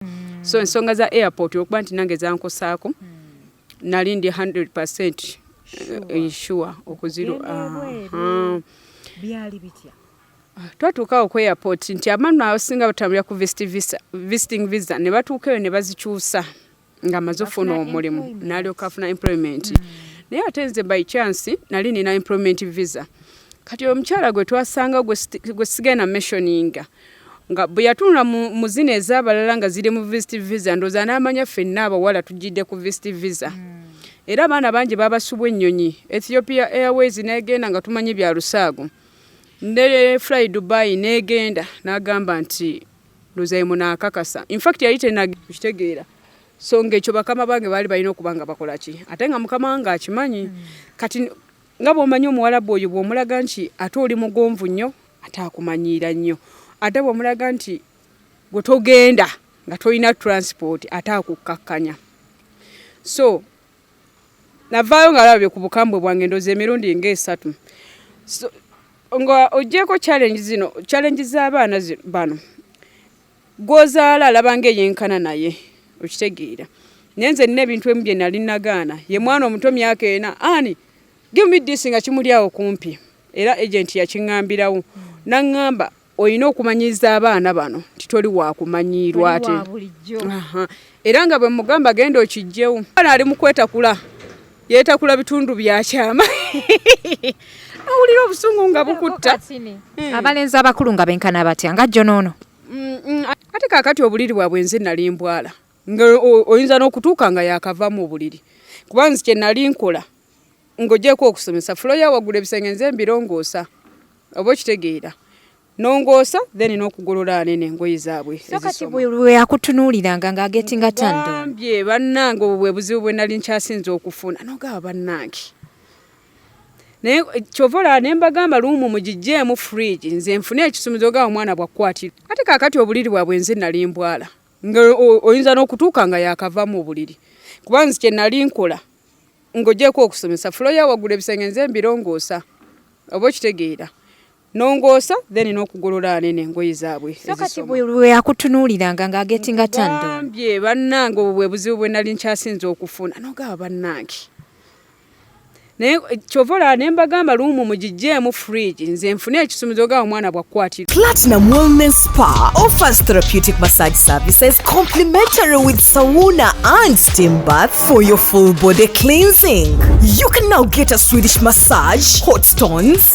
mm. so ensonga za airport okuba nti nange zankosaako mm. nali ndi 100 percent eh, sure okuziro uh-huh. byali bitya twatuukawo ku airport nti abantu abasinga batambulira ku visiting visa ne batuuka eyo ne bazikyusa nga maze ofuna omulimu nalyoka afuna employment mm. naye ate nze by chance nali nina employment visa kati omukyala gwe twasanga gwe sigenda messioninga Nga bwe yatunula mu, mu zino ez'abalala nga ziri mu visit visa, ndowooza n'amanya ffenna abawala tujjidde ku visit visa. Mm. Era abaana bangi baabasubwa ennyonyi, Ethiopia Airways n'egenda nga tumanyi bya lusaago. Ne Fly Dubai n'egenda n'agamba nti ndowooza ye munaakakasa. In fact yali tenakitegeera. So ng'ekyo bakama bange baali balina okuba nga bakola ki? Ate nga mukama wange akimanyi. Mm. Kati nga bwomanyi omuwalabu oyo bwomulaga nti ate oli mugonvu nnyo ate akumanyiira nnyo ate bwomulaga nti gwe togenda nga tolina transport ate akukkakkanya so navaayo nga labye ku bukambwe bwange ndoza emirundi nga esatu nga ogyeko challenge zino challenge z'abaana bano gwozaala alaba nga eyenkana naye okitegeera naye nze nina ebintu emu bye nali nagaana ye mwana omuto myaka ena ani give me this nga kimuli awo kumpi era agenti yakiŋambirawo naŋŋamba olina okumanyiza abaana bano nti toli wakumanyiirwa ate era nga bwe mugamba genda okijjewo ali mukwetakula yetakula bitundu byakyama awulira obusungu nga bukutta hmm. abalenzi abakulu nga benkana batya nga jjo noono mm, mm, ate kakati obuliri bwabwe nze nali mbwala nga oyinza n'okutuuka nga yakavamu obuliri kuba nze kyenali nkola ng'ogyeko okusomesa fulo yawagula ebisenge nze mbirongoosa oba okitegeera nongoosa then n'okugolola anene engoye zaabwe weyakutunuuliranga nga agetinga tandambye bannange obwo bwe buzibu bwe nali nkyasinza okufuna nogaba bannange naye kyova olaba ne mbagamba luumu mugijjeemu fridge nze nfune ekisumuzo ga omwana bwakukwatira ate kakati obuliri bwabwe nze nali mbwala nga oyinza n'okutuuka nga yakavamu obuliri kuba nze kye nali nkola ng'ogyeko okusomesa fulo ya waggulu ebisenge nze mbirongoosa oba okitegeera nongoosa then n'okugolola anene engoye zaabwe weyakutunuuliranga nga agetinga tandambye bannange obwo bwe buzibu bwe nali nkyasinza okufuna nogaba bannange naye eh, kyova olaba ne mbagamba luumu mugijjeemu fridge nze nfune ekisumuzo ga omwana bwakukwatira platinum wellness spa offers therapeutic massage services complimentary with sauna and steam bath for your full body cleansing you can now get a swedish massage hot stones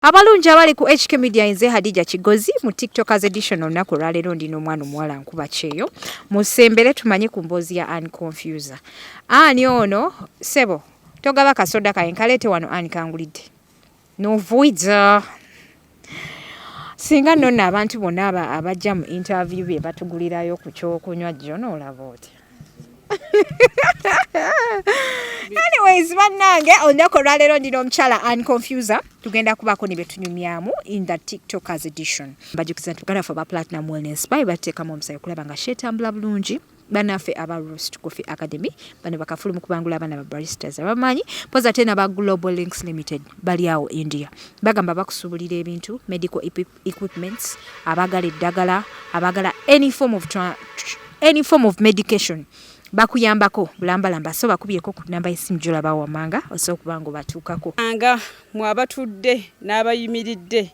Abalungi abali ku HK Media nze Hadija Kigozi mu TikTokers edition olunaku olwaleero ndi n'omwana omuwala nkuba kyeyo musembere tumanye ku mboozi ya Ann Confuser. Ani ono sebo togaba kasoda kaye nkaleete wano Ann kangulidde novuiza singa nona abantu bonna abajja mu interview bye batugulirayo ku kyokunywa jjo noolaba otya anyways bannange olunaku olwaleero ndina omukyala an confuser tugenda kubaako ne betunyumyamu in the tiktokers edition bajukiza nti baganda fe aba platinum wellness baye bateekamu omusayi okulaba nga shetambula bulungi banaffe aba rost coffee academy bano bakafulu mukubangula abaana ba baristas abamanyi poza ate naba global links limited bali awo india bagamba bakusubulira ebintu medical equipments abagala eddagala abagala any form of, any form of medication bakuyambako bulambalamba so bakubyeko ku namba yesimu gyolaba wamanga osobola okuba nga obatuukako anga mwabatudde n'abayimiridde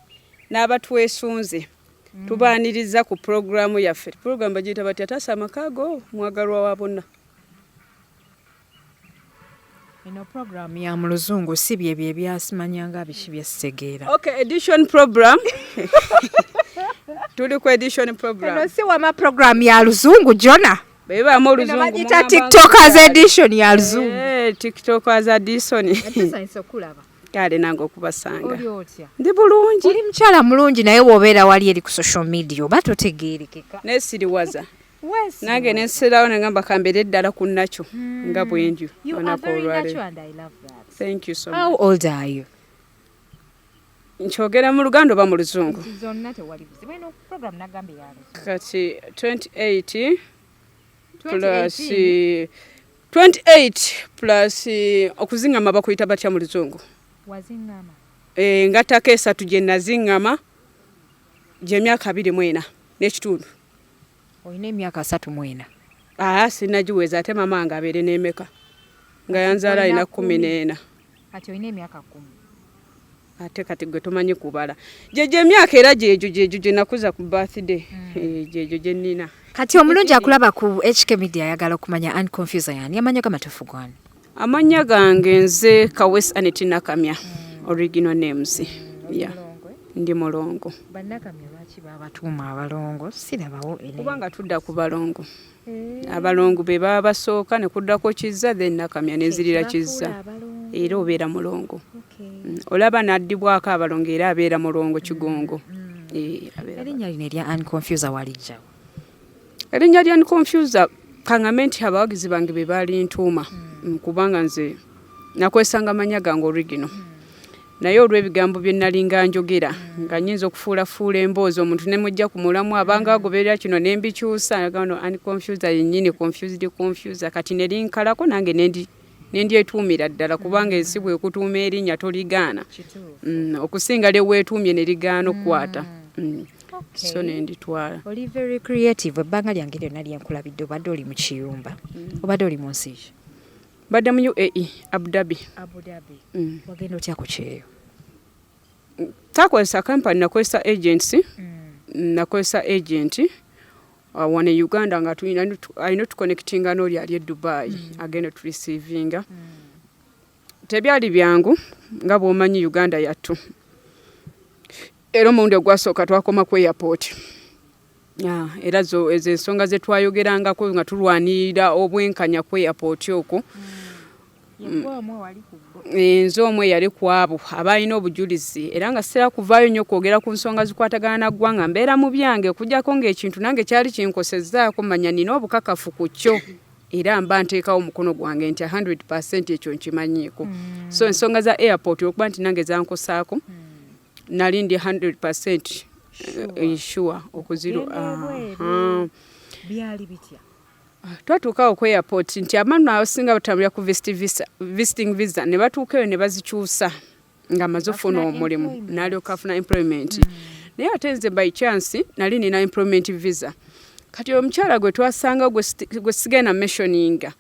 n'abatwesunze mm. tubaaniriza ku pulogulaamu yaffe pulogulaamu bagiyita batya taasa amakaago mwagalwa wa bonna Eno program ya mu luzungu si bye bye byasimanyanga biki bye sitegeera. Okay, edition program. Tuli ku edition program. Eno si wama program ya luzungu Jona. Beba mo luzungu. Eno bagita TikTokers edition ya luzungu. Eh, TikTokers edition. Atisa inso kulaba. Kale nange okubasanga. Oli otya? Ndi bulungi. Oli mchala mulungi naye wobeera wali eri ku social media oba totegeerekeka. Nesiriwaza. nange nensirawo nengamba kambere eddala ku nakyo hmm. nga bwendi olunaku olwaleero nkyogera mu luganda oba mu luzungu kati 28 plus 28 plus okuzingama bakuyita batya mu luzungu eh, ngattako esatu gye nazingama gyemyaka abiri mwena n'ekitundu olina emyaka asatu mwena aa sinagiweza ate mama wange abeere nemeka nga yanzaala alina kumi neena kati olina emyaka kumi ate kati gwe tomanyi kubala gyegyo emyaka era gyegyo gyegyo gyenakuza ku birthday hmm. eh, gyegyo gyenina kati omulungi akulaba ku hk media ayagala okumanya unconfusa yani amanyo gamatufu gwana Amannya gange nze Kawesi Aneti Nakamya hmm. original names ya ndi mulongo. Bannakamya lwaki babatuuma abalongo sirabawo kubanga tudda ku balongo eh. abalongo be baba basooka ne kuddako kizza then Nakamya nenzirira kizza era obeera mulongo hmm. olaba naddibwako abalongo era abeera mulongo kigongo hmm. eh, erinnya lino erya unconfuser walijjawo erinnya lya nconfusa kangame nti abawagizi bange be baalintuuma hmm. mm, kubanga nze nakwesanga manya gange origino hmm. naye olw'ebigambo bye nalinga njogera hmm. nga nyinza okufuulafuula emboozi omuntu ne mujja ku mulamu abanga agoberera kino ne mbikyusa ani confusa yennyini confused confusa kati ne linkalako nange nendi nendyetuumira ddala kubanga ensi bwekutuuma erinnya toligaana mm, okusinga lyeweetuumye ne ligaana okukwata mm. mm. so nenditwala oli very creative ebbanga lyange lyonna lyenkulabidde obadde oli mu kiyumba obadde oli mu nsi ki mbadde mu uae abudhabi wagenda otya ku kyeyo takozesa kampani nakozesa agency nakozesa agenti Uh, wano e uganda nga tulina alina otuconnectinga n'oli ali e dubai mm. agenda oturisiivinga mm. tebyali byangu nga bwomanyi uganda yattu era omulundi ogwasooka twakoma ku airport era ezo ensonga zetwayogerangako nga tulwanirira obwenkanya ku airport okwo mm. Eh, nze omu eyali ku abo abaalina obujulizi era nga sitera kuvaayo nnyo kwogera ku nsonga zikwatagana na ggwanga mbeera mu byange okujjako ng'ekintu nange kyali kinkosezzaako manya nina obukakafu ku kyo era mba nteekawo omukono gwange nti 100 percent ekyo nkimanyiiko mm. so ensonga za airport olwokuba nti nange zankosaako mm. nali ndi 100 percent sure eh, okuzirwa byali bitya twatuukawo ku airport nti abaana abasinga batambulira ku visiting visa ne batuuka eyo ne bazikyusa nga amaze ofuna omulimu nalyoka afuna employment mm. naye ate nze by chance nali nina employment visa kati oyo omukyala gwe twasanga gwe sigenda mentioninga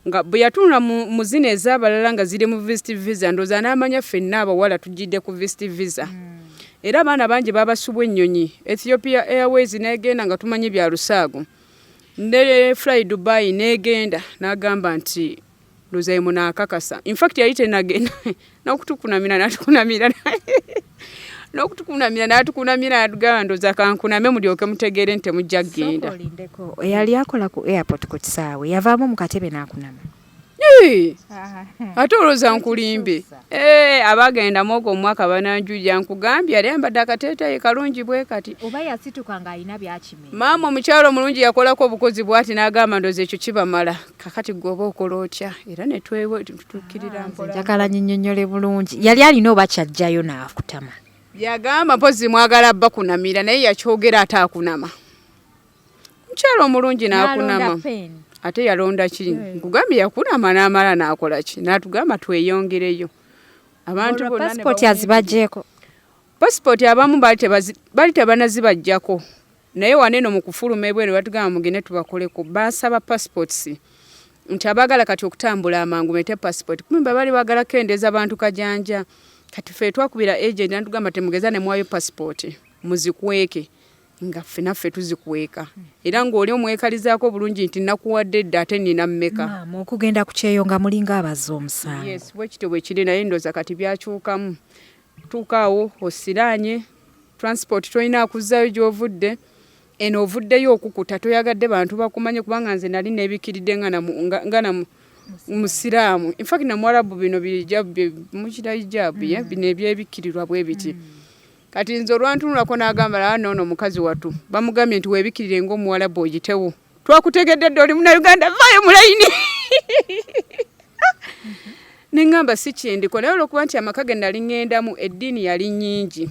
nga bwe yatunula mu zina ez'abalala nga ziri mu visit visa ndooza n'amanya ffenna abawala tugidde ku visit visa mm. era abaana bangi babasubwa ennyonyi ethiopia airways negenda nga tumanyi bya lusaago ne fly dubai negenda nagamba nti luzaye munakakasa infact yali tenagenda nokutukunamira natukunamira nokutukunamira natukunamira atugamba ndoza kankuname mulyoke mutegeere nti temujja kugenda eyali akola ku airport ku kisaawe yavaamu mukatebe nakunama ate olowooza nkulimbe eh, abagenda mwogo omwaka bananjuja nkugambye yali ambadde akateetayi kalungi bwe kati oba yasituka ng'alina byakime maama omukyalo omulungi yakolako obukozi bwati n'agamba ndoza ekyo kibamala kakati gwe oba okola otya era netwetukkirira ah, mpolanjagala nyinyonyole bulungi yali alina oba kyajjayo naakutama yagamba mpozi mwagala bakunamira naye yakyogera ataakunama mukyalo omulungi nakunama ate yalonda ki hmm. nkugambye yakunama namala nakola ki natugamba tweyongereyo abantu passport azibajeko passport abamu bali tebanazibajjako naye waneno mukufuluma ebweru batugamba mugende tubakoleko basaba passports nti abagala kati okutambula amangu mete passport kumbe bali bagala kendeza abantu kajanja kati fe twakubira agent natugamba temugeza ne mwayo passport muzikweke nga ffe naffe tuzikweka era ng'oli omwekalizaako obulungi nti nakuwadde dda ate nina mmeka okugenda ku kyeyo nga mulinga abazza omusango yes bwe kityo bwe kiri naye ndooza kati byakyukamu tuukaawo osiraanye transport tolina akuzzayo gy'ovudde eno ovuddeyo okukuta toyagadde bantu bakumanye kubanga nze nali nebikiridde nga namu nga namu musiraamu infact namuwarabu bino bijabbi mukira ijabu ye mm. bino ebyebikirirwa bwe biti mm. kati nze olwantunulako n'agamba laa noono mukazi wattu bamugambye nti weebikirire ng'omuwalabu ogitewo twakutegedde dda oli munauganda vaayo mulayini neŋŋamba si kyendiko naye olwokuba nti amaka ge nali ŋŋendamu eddiini yali nnyingi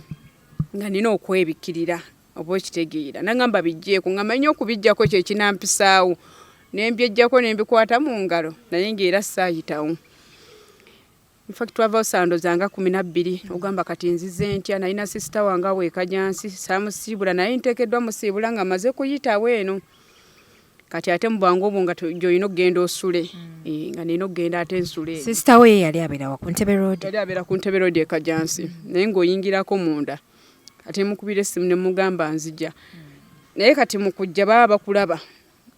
nga nina okwebikkirira oba okitegeera naŋŋamba bijjeeko nga manyi okubijjako kye kinampisaawo ne mbyejjako ne mbikwata mu ngalo naye ng'era saayitawo Infact twava osandoza nga kumi nabbiri ogamba kati nzize ntya nalina sisita wange awo ekajansi samusiibula naye ntekeddwa musiibula nga maze kuyitawo eno kati ate mubwangu obwo nga gyolina okugenda osule mm. eh, nga nina okugenda ate nsule sisita wo ye yali abeerawa ku ntebe road yali abeera ku ntebe road ekajansi mm. naye ng'oyingirako munda kati mukubira essimu ne mugamba nzija mm. naye kati mu kujja baba bakulaba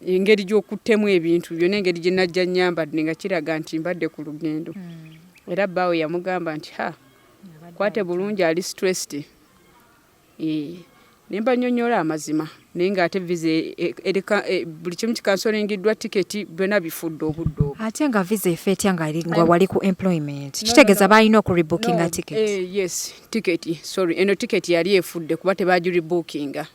engeri gy'okuttemu ebintu byona engeri gye najja nyambadde nga kiraga nti mbadde ku lugendo hmm. era bbaawe yamugamba nti ha kwate bulungi ali stressed nemba nyonyola amazima naye nga ate visa e, e, ereka e, buli kimu kikansolengiddwa tiketi byona bifudde obudde obwo ate nga visa efe etya nga nga wali ku employment kitegeeza balina okuribookinga ticket yes tiketi sorry eno tiketi yali efudde kuba tebagiribookinga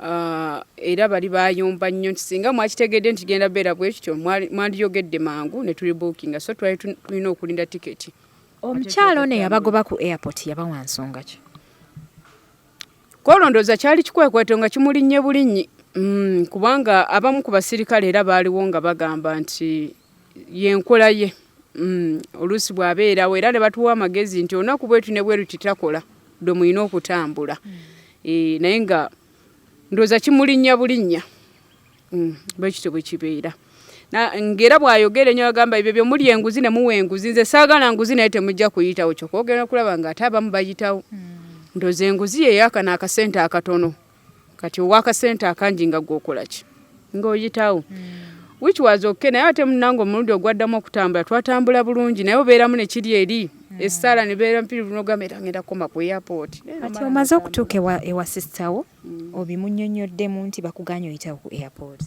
Ah, era bali bayomba nnyo nti singa mwakitegedde nti genda beera bwe kityo mwandiyogedde mangu ne tuli bookinga so twali tulina okulinda tiketi omukyalo ono eyabagoba ku airport yabawa nsonga ki kwolondooza kyali kikwekweto nga kimulinnye bulinnyi mm, kubanga abamu ku basirikale era baaliwo nga bagamba nti yenkola ye mm, oluusi bwabeerawo era ne batuwa amagezi nti olunaku bwetu ne bweruti takola dwe mulina okutambula mm. e, naye nga ndooza kimulinnya bulinnya mm, bwekityo bwe kibeera ngera bwayogera enyo agamba ebyo byo muli enguzi ne muwe enguzi nze saagala nguzi naye temujja kuyitawo kyokogenda okulaba nga ate abamu bayitawo mm. ndoze enguzi yeyakana akasente akatono kati owakasente akangi nga gwokolaki ngaoyitawo hmm. which was okay naye ate munange omulundi ogwaddamu okutambula twatambula bulungi naye obeeramu nekiri eri hmm. essaala nebeera mpirivu nogamba era ngenda kukoma ku airport kati omaze okutuuka ewa sisitawo hmm. obimunyonyoddemu nti bakuganya oyitawo ku airport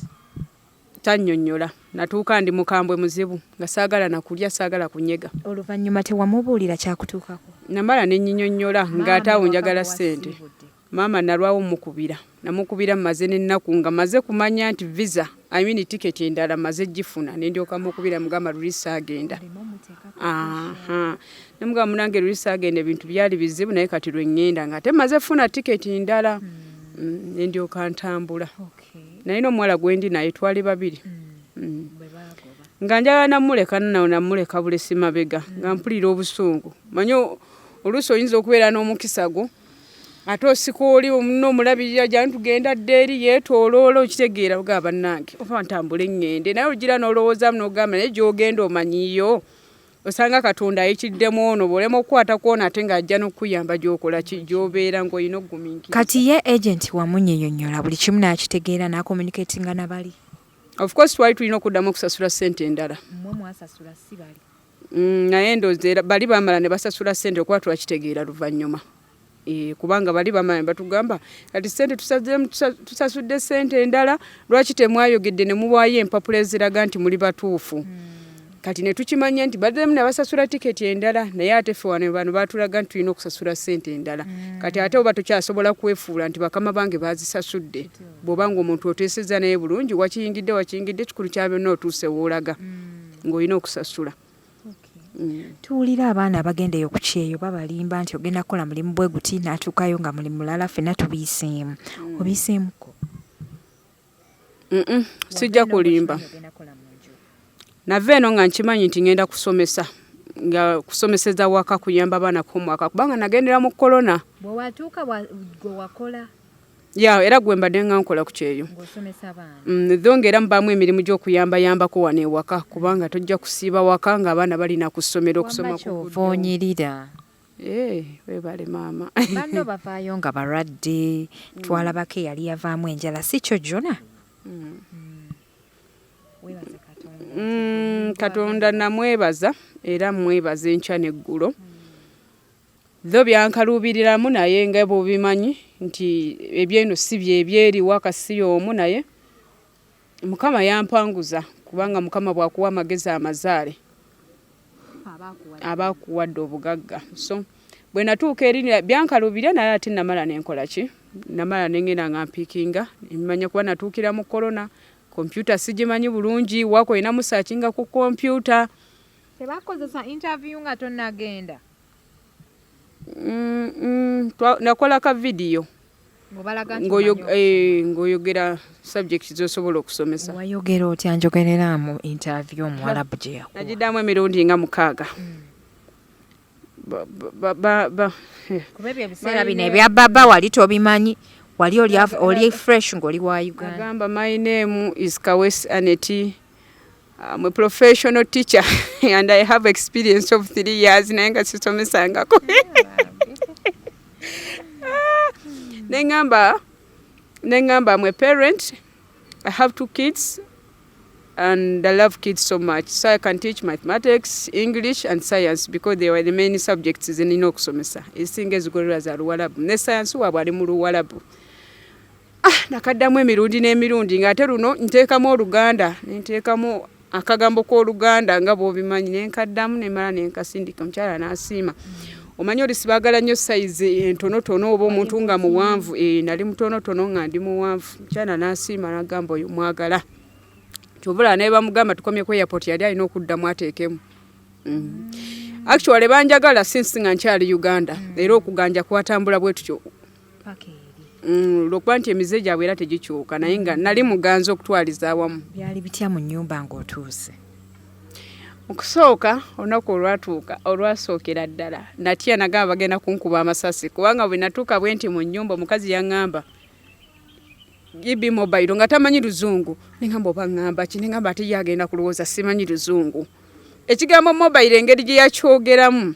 tanyonyola natuuka ndi mukambwe muzibu nga saagala nakulya saagala kunyega oluvannyuma tewamubuulira kyakutuukako namala nenyinyonyola ngaate awo njagala ssente Maama nalwawo mukubira namukubira maze n'ennaku nga maze kumanya nti visa I mean ticket endala maze gifuna ne ndyoka mukubira mugamba luli saagenda aha ne mugamba munange luli saagenda ebintu byali bizibu naye kati lwe ngenda nga ate maze funa ticket endala hmm. mm, ne ndyoka ntambula naye n'omuwala gwendi naye twali babiri hmm. Mm. nga njagala namuleka nnawo namuleka bulesi mabega nga mpulira obusungu manyi oluusi oyinza okubeera n'omukisa gwo ate osika oli omuno omulabirira gyani tugenda dda eri yeetoloola okitegeera oga bannange oba ntambule ŋŋende naye ogira n'olowoozaamu n'ogamba naye gy'ogenda omanyiyo osanga katonda ayikiddemu ono bw'olema okukwata kwona ate ng'ajja n'okukuyamba gy'okola ki gy'obeera ng'olina okugumiikira kati ye agenti wamunyonyonyola buli kimu n'akitegeera n'akomunikatinga na bali of course twali tulina okuddamu okusasula ssente endala mmwe mwasasula si bali Mm, naye ndozeera bali bamala ne basasula sente okuba twakitegeera luvannyuma e, kubanga bali bamala batugamba kati sente tusasudde sente endala lwaki temwayogedde ne muwaayo empapula eziraga nti muli batuufu hmm. kati ne tukimanya nti bademu ne basasula tiketi endala naye ate ffe wano bano batulaga nti tulina okusasula sente endala hmm. kati ate oba tukyasobola kwefuula nti bakama bange bazisasudde bw'oba ng'omuntu oteeseza naye bulungi wakiyingidde wakiyingidde kikulu kyabyonna otuuse woolaga hmm. ng'olina okusasula mm. tuwulira abaana abagenda eyo ku kyeyo babalimba nti ogenda kukola mulimu bwe guti n'atuukayo nga mulimu mulala ffenna tubiyiseemu mm. obiyiseemuko sijja kulimba nava eno nga nkimanyi nti ngenda kusomesa nga kusomeseza waka kuyamba abaana ku mwaka kubanga nagendera mu corona bwewatuuka gwe wakola ya era gwe mbadde nga nkola ku kyeyo mm, tho ngaera mubaamu emirimu gy'okuyambayambako wano ewaka kubanga tojja kusiiba waka ng'abaana balina ku ssomero okusoma kuonyirira eh, webale maama banno bavaayo nga balwadde mm. twalabako eyali yavaamu enjala si kyo jona mm. katonda namwebaza era mwebaza enkya n'eggulo Dho byankaluubiriramu naye nga bwobimanyi nti ebyeno si byebyeri waka si y'omu naye Mukama yampanguza kubanga Mukama bwakuwa amagezi amazaale aba akuwadde obugagga so bwe natuuka eri byankaluubirira naye ate namala nenkola ki namala nengenda nga mpiikinga emanya kuba natuukira mu korona kompyuta sigimanyi bulungi wako olinamu saakinga ku kompyuta tebakozesa interview nga tonagenda Mm, mm, twa- nakola ka vidiyo ng'obalaga nti ng'oyo- omanyi eh, ng'oyogera subject zosobola okusomesa oku- wayogera otya njogerera mu interview omuwalabu gye yakuwa nagidamu emirundi nga mukaaga Ba- ba- ba- ba- ba- eh. kuba ebyo ebiseera bino ebya baba wali tobimanyi wali oli av- oli fresh ng'oli wa uganda agamba my name is kawesi aneti I'm a professional teacher and I have experience of three years naye nga sisomesangako nengamba nengamba I'm a parent I have two kids and I love kids so much so I can teach mathematics English and science because they were the main subjects zenina okusomesa ezisinga ezigolerwa za luwalabu ne science waabwe ali mu luwalabu ah nakaddamu emirundi n'emirundi ng'ate luno nteekamu oluganda nenteekamu akagambo k'oluganda nga bwobimanyi nenkaddamu nemala nenkasindika omukyala n'asiima omanyi oli sibagala nnyo sayizi entonotono oba omuntu nga muwanvu eh, nali mutonotono nga ndi muwanvu mukyala n'asiima nagamba oyo mwagala kyobula naye bamugamba tukomye ku airport yali alina okuddamu ateekemu mm. actually banjagala sinsi nga nkyali uganda mm. era okuganja kwatambula bwe tutyo paka eri mm, lwokuba nti emize gyabwe era tegikyuka naye nga nali muganza okutwaliza awamu byali bitya mu nyumba ngaotuuse okusooka olunaku olwatuuka olwasookera ddala natya nagamba bagenda kunkuba amasasi kubanga bwe natuuka bwe nti mu nyumba omukazi yaŋŋamba ibi mobile nga tamanyi luzungu neŋamba oba ŋŋamba ki neŋamba ate ye agenda kulowooza simanyi luzungu ekigambo mobile engeri gye yakyogeramu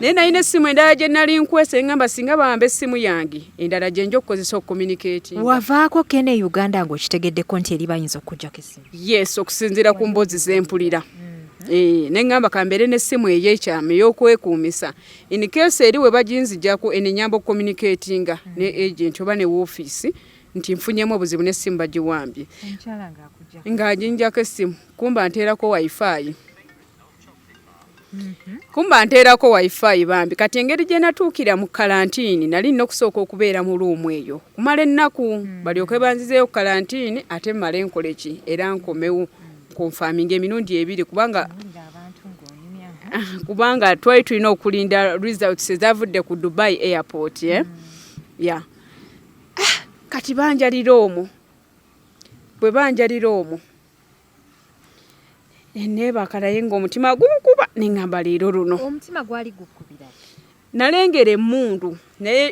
naye nalina essimu endala gye nali nkwese ngamba singa bawamba essimu yange endala gye nja okukozesa okukomunikati wavaako kena e uganda ng'okitegeddeko nti eri bayinza okukujjako essimu yes okusinziira ku mboozi zempulira mm-hmm. eh, ne ngamba kambeere n'essimu ey'ekyama ey'okwekuumisa in case eri we baginzijako enenyamba okukomunikatinga mm-hmm. ne agenti oba ne woofiisi nti nfunyemu obuzibu n'essimu bagiwambye ng'aginjako essimu kumba nteerako wifi Mhm. kumba nteerako wifi bambi kati engeri gye natuukira mu kalantiini nali nina okusooka okubeera mu luumu eyo kumala ennaku mm. balyoke banzizeeyo ku kalantiini ate mmale nkola eki era nkomewo kunfaaminga emirundi ebiri kubanga kubanga twali tulina okulinda results ezavudde ku dubai airport e eh? mm. ya ah, kati banjalira omwo bwe banjalira omwo nebaaka naye ngaomutima gunkuba neŋamba leero luno omutima gwali gukubira nalengera emundu naye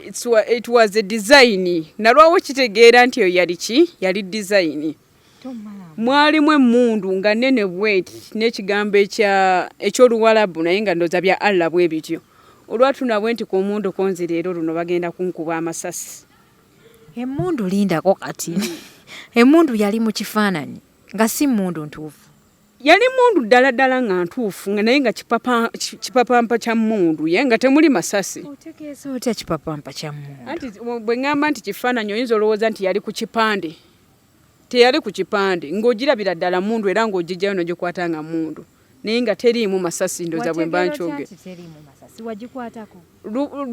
it was a design nalwawo kitegeera nti eyo yali ki yali design mwalimu emundu nga nene bweti nekigambo ekyoluwalabu naye nga ndoza bya allah bwe bityo olwatunabwe nti ku omundu konzi leero luno bagenda kunkuba amasasi Emmundu lindako kati. Hmm. Emmundu yali mu kifaananyi nga si mmundu ntuufu. Yali mmundu ddala ddala nga ntuufu nga naye nga kipapampa kya mmundu ye nga temuli masasi. Otegeeza otya kipapampa kya mmundu? Anti bwe ŋŋamba nti kifaananyi oyinza olowooza nti yali ku kipande. teyali ku kipande ng'ogirabira ddala mundu era ng'ogijjayo n'ogikwata nga mundu naye nga teriimu masasi ndoza bwe mba nkyoge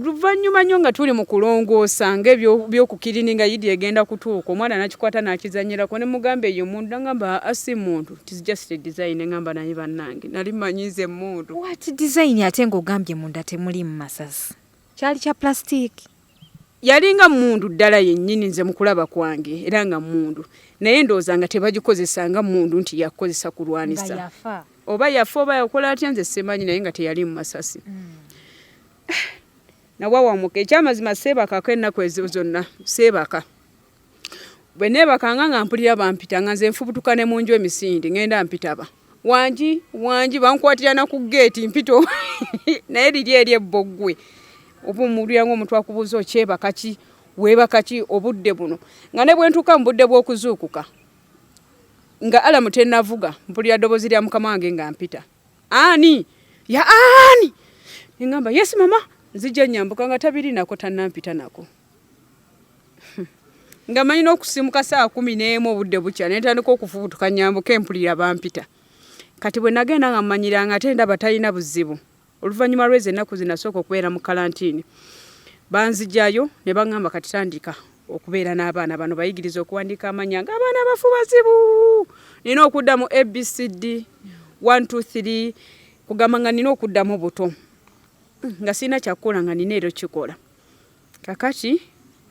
luvannyuma nnyo nga tuli mu kulongoosa nga ebyokukirini nga yidi egenda kutuuka omwana nakikwata nakizanyirako ne mugamba eyo mundu nagamba asi muntu tizijust design ngamba naye bannange nali manyize mundu wati design ate ng'ogambye munda temuliimu masasi kyali kya plastic yalinga mundu ddala yennyini nze mukulaba kwange era nga mundu naye ndowooza nga tebagikozesa nga mundu nti yakukozesa kulwanisa oba yafa oba yakola atya nze simanyi naye nga teyali mu masasi mm. nawawamuka ekyamazima seebakako ennaku ezo zonna seebaka bwe neebakanga nga mpulira bampita nga nze nfubutuka ne mu nju emisinde ngenda mpitaba wangi wangi bankwatira na ku geeti mpito naye liri eri ebboggwe oba omulira ngaomuntu akubuuza okyebaka ki weebaka ki obudde buno nga ne bwe ntuuka mu budde bw'okuzuukuka nga alamu tenavuga mpulira ddoboozi lya mukama wange nga mpita ani ya ani neŋamba yesi mama nzija nyambuka nga tabirinako tanampita nako nga manyi n'okusimuka saa kumi n'emu obudde bukya ne ntandika okufubutuka nyambuka empulira bampita kati bwe nagenda nga mmanyira nga ate ndaba talina buzibu oluvannyuma lwezi ennaku zinasooka okubeera mu kalantiini banzijayo ne baŋŋamba kati tandika okubeera n'abaana bano bayigiriza okuwandiika amanya ng'abaana abafu bazibu nina okudda mu abcd 123 kugamba nga nina okuddamu buto nga sirina kyakukola nga nina ero kikola kakati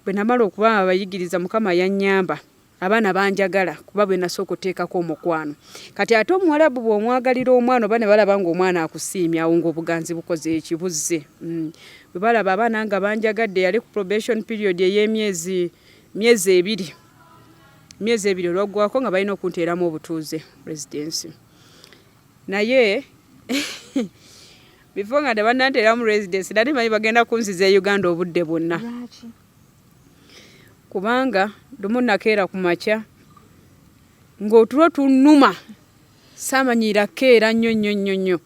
bwe namala okuba abayigiriza mukama yannyamba abaana banjagala kuba bwe nasooka oteekako omukwano kati ate omuwalabu bw'omwagalira omwana oba ne balaba ng'omwana akusiimya awo ng'obuganzi bukoze ekibuzze mm. bwe balaba abaana nga banjagadde yali ku probation period ey'emyezi myezi ebiri myezi ebiri olwaggwako nga balina okunteeramu obutuuze residensi naye before nga tebananteramu residence nali manyi bagenda kunziza e uganda obudde bwonna kubanga lumu nakeera ku makya ng'otulo tunuma saamanyiira keera nnyo nnyo nnyo nnyo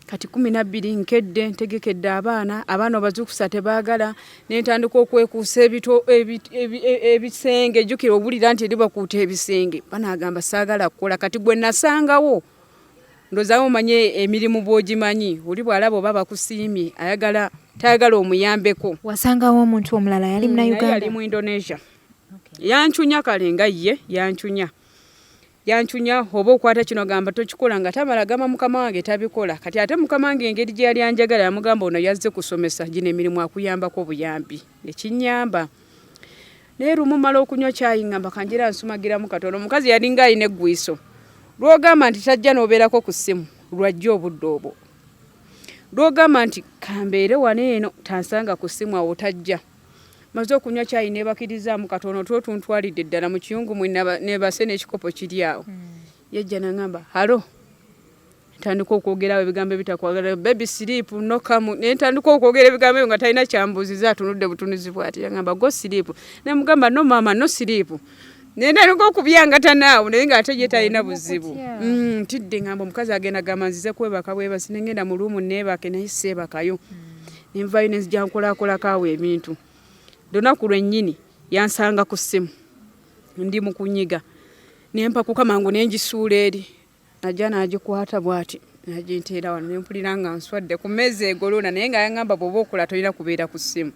kati kumi nabbiri nkedde ntegekedde abaana abaana obazuukusa tebaagala nentandika okwekuusa e, e, ebisenge jukira obulira nti eribakuuta ebisenge banagamba saagala kukola kati gwe nasangawo ndozawo omanye emirimu bwogimanyi oli bwalaba oba bakusiimye ayagala tayagala omuyambeko wasangawo omuntu omulala yali mm, munauganda yali mu indonesia yancunya kale nga ye yancunya yanchunya oba okwata kino gamba tokikola nga tamala gamba mukama wange tabikola kati ate mukama wange engeri gye yali anjagala yamugamba ono yazze kusomesa gino emirimu akuyambako obuyambi nekinyamba naye lumu mala okunywa kyayi ngamba kanjira nsumagiramu katono omukazi yalinga alina eggwiiso lwogamba nti tajja nobeerako ku ssimu lwajja obudde obwo lwogamba nti kambeere wano eno tansanga ku ssimu awo tajja maze okunywa kyayi nebakirizamu katono two tuntwalidde ddala mu kiyungu mwe nebase n'ekikopo kiri awo hmm. yajja nangamba halo ntandika okwogerawo ebigambo ebitakwagala baby sleep no come naye ntandika okwogera ebigambo ebyo nga talina kyambuuziza atunudde butunuzi bwati yangamba go sleep naye mugamba no maama no sleep naye ntandika okubyangatanaawo naye nga ate ye talina buzibu hmm, ntidde ngamba omukazi agenda gamba nzize kwebaka bwebasi nengenda mu luumu neebake naye seebakayo mm. Environence gyankolaakolako awo ebintu. Lunaku lwennyini yansanga ku ssimu ndi mu kunyiga ne mpakuka mangu ne ngisuula eri najja n'agikwata bw'ati naginteera wano ne mpulira nga nswadde ku mmeeza egoloona naye nga yangamba bw'oba okola tolina kubeera ku ssimu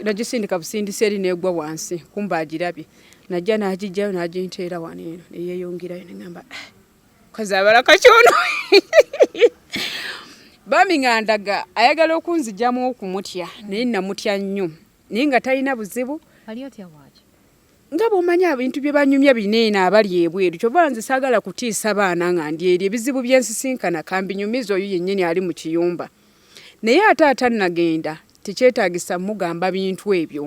nagisindika busindisi eri n'egwa wansi kumba agirabye najja n'agijjayo n'aginteera wano eno ne yeeyongerayo ne ngamba ah, kazabala kakyono bambi nga ndaga ayagala okunzijamu okumutya naye namutya nnyo naye nga talina buzibu nga bwomanya ebintu bye banyumya bineena abali ebweru kyova nze saagala kutiisa baana nga ndi eri ebizibu byensisinkana kambinyumiza oyo yennyini ali mu kiyumba naye ate atanagenda tekyetagisa mugamba bintu ebyo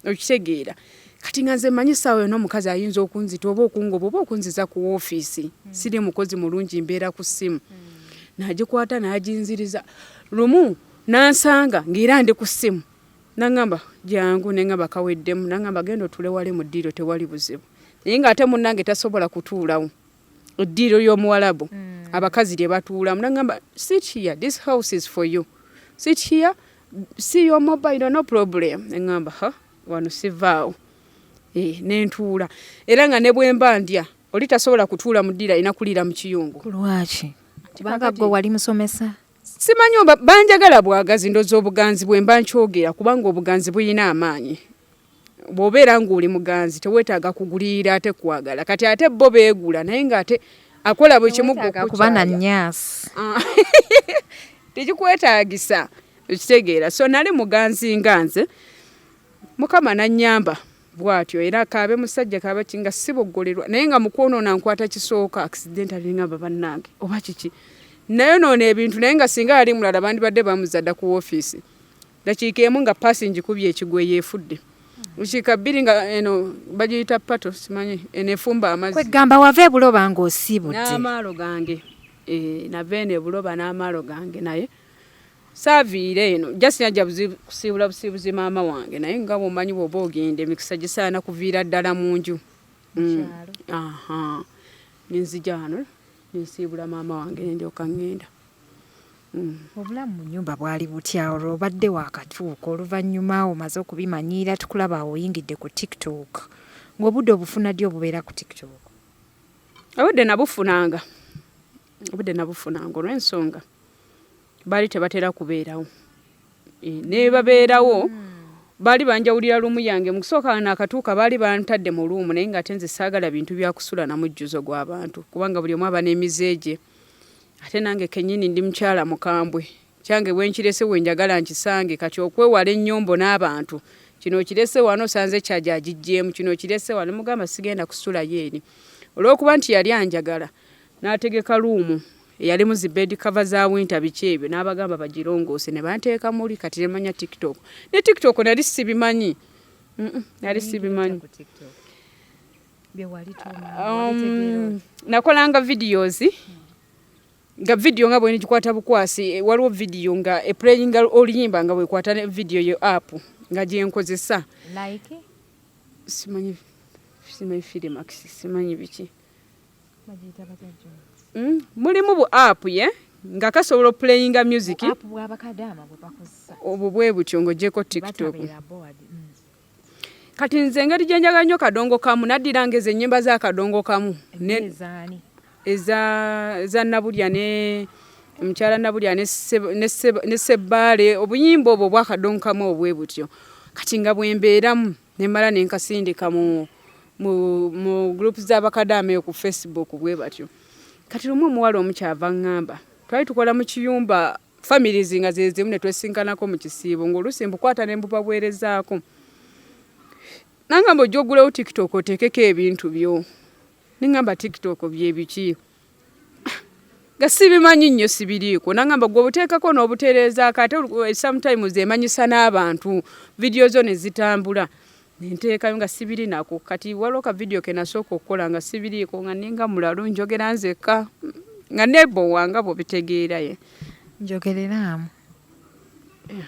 okitegeera kati nga nze manyi saawa yona omukazi ayinza okunzita oba okungoba oba okunziza ku ofiisi mm. siri mukozi mulungi mbeera ku ssimu mm. nagikwata naginziriza lumu nansanga ngaera ndi ku ssimu nangamba jangu nengamba kaweddemu nangamba genda otulewale mu ddiiro tewali buzibu naye nga ate munange tasobola kutuulawo eddiiro ly'omuwalabu mm. abakazi lye batuulamu nagamba sit here this house is for you sit here see your mobile no problem engamba ha wano sivaawo eh, nentuula era nga ne bwemba ndya oli tasobola kutuula mu ddiiro alina kuliira mu kiyungu kulwaki kubanga gwe wali musomesa simanyi banjagala bwagazi ndoza obuganzi bwemba nkyogera kubanga obuganzi buyina amaanyi bwobeera ng'oli muganzi teweetaaga kuguliira ate kwagala kati ate bo beegula naye ng'ate akola buli kimu kuba na nyaasi ah. tekikwetaagisa okitegeera so nali muganzi nga nze mukama nanyamba bwatyo era kaabe musajja kaaba kinga siboggolerwa naye nga mukwonoona nkwata kisooka accident alingamba bannange oba kiki nayonoona ebintu naye nga singa yali mulala bandibadde bamuzadda ku woofiisi dakiika emu nga paasi ngikubye ekigwa eyo efudde dakiika bbiri nga eno bagiyita pato simanyi eno efumba amazzi kwegamba wava ebuloba nga osiibudde n'amaalo gange eh, nava eno ebuloba n'amaalo gange naye saaviire eno just najja kusiibula busiibuzi maama wange naye nga bwomanyi bwoba ogenda emikisa gisaana kuviira ddala mu nju mm. nenzija wano nensiibula maama wange nendyoka ngenda Mm. obulamu mu nyumba bwali butya olwo obadde wakatuuka oluvannyuma omaze okubimanyiira tukulaba oyingidde ku tiktok ng'obudde obufuna ddi obubeera ku tiktok obudde nabufunanga obudde nabufunanga olw'ensonga baali tebatera kubeerawo e, nebabeerawo hmm. baali banjawulira lumu yange mu kusooka naakatuuka baali bantadde mu luumu naye ng'ate nze saagala bintu byakusula na mujjuzo gw'abantu kubanga buli omu aba n'emize gye ate nange kenyini ndi mukyala mukambwe kyange bwenkirese wenjagala nkisange kati okwewala ennyombo n'abantu kino kirese wano sanze kyaja agijjeemu kino kirese wano mugamba sigenda kusula yeeri olw'okuba nti yali anjagala n'ategeka luumu eyalimu zi bed cover za winter biki ebyo n'abagamba bagirongoose ne banteeka muli kati ne manya tiktok ne tiktok nali sibimanyi nali sibimanyi mm -mm, Um, nakolanga videos nga video nga bwenigikwata bukwasi eh, waliwo video nga eplayinga oluyimba nga bwekwata video yo app nga gyenkozesa like? simanyi simanyi filimax simanyi biki mm? mulimu bu app ye yeah? nga kasobola opulayinga music obwo bwe butyo ng'ogyeko tiktok kati nze engeri gye njagala nnyo kadongo kamu naddiranga ezo ennyimba za kadongo kamu eza nabulya ne omukyala nabulya ne sebbaale obuyimba obwo obwa kadongo kamu obwe butyo kati nga bwe mbeeramu ne mmala ne nkasindika mu mu gurupu z'abakadaama eyo ku facebook bwe batyo kati lumu omuwala omu kyava ŋŋamba twali tukola mu kiyumba families nga zezimu netwesinkanako mu kisiibo ng'oluusi mbukwata ne mbubaweerezaako nangamba ojja ogulewo tiktok oteekeko ebintu byo nengamba tiktok byebiki nga sibimanyi nnyo sibiriiko nangamba gwe obuteekako n'obutereezaako ate eh, sometimes emanyisa n'abantu vidiyo zo ne zitambula nenteekayo nga sibiri nako kati waliwo ka vidiyo ke nasooka okukola nga sibiriiko nga ninga mulalu njogera nzekka nga nebowa nga bwobitegeeraye njogereraamu eh,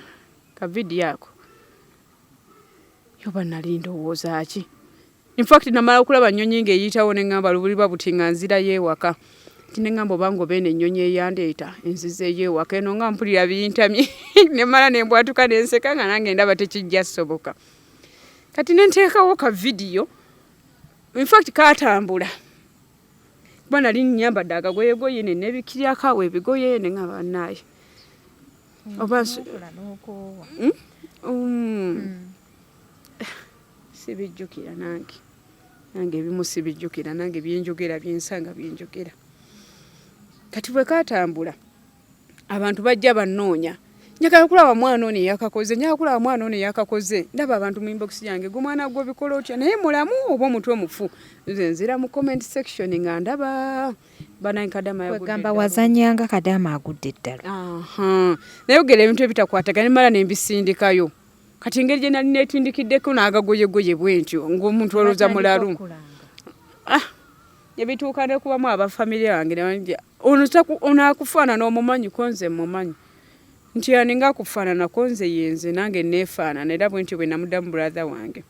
ka vidiyo ako yoba nali ndowooza ki infact namala okulaba nnyonyi ng'eyitawo ne ŋŋamba lubuliba buti nga nzirayo ewaka nti ne ŋŋamba oba ngaoba eno ennyonyi eyandeeta enzizeeyo ewaka eno nga mpulira bintamye ne mala ne mbwatuka ne nseka nga nange ndaba tekijja soboka kati nenteekawo ka vidiyo infact katambula kuba nali nyambadde akagoyegoye nenebikiryakawo ebigoye neŋabanaye hmm, oba hmm? Hmm. sibijjukira nange nange ebimu sibijjukira nange byenjogera byensanga byenjogera kati bwekatambula abantu bajja bannoonya njagala kulaba mwana ono eyakakoze njagala kulaba mwana ono eyakakoze ndaba abantu mu inbox yange gwe mwana gwe obikola otya naye mulamu oba omutwe mufu nze nzira mu comment section nga ndaba banaye kadama yagamba wazanyanga kadama agudde eddala naye ogera ebintu ebitakwatagana mala nembisindikayo kati engeri gye nali netindikiddeko n'agagoyegoye bwentyo ng'omuntu olowooza mulalu ah, ebituuka nekubamu abafamire yange Ono taku ono akufana no mumanyi konze mumanyi. Nti aninga kufana na konze yenze nange nefana na edabu nti wena mudamu brother wange.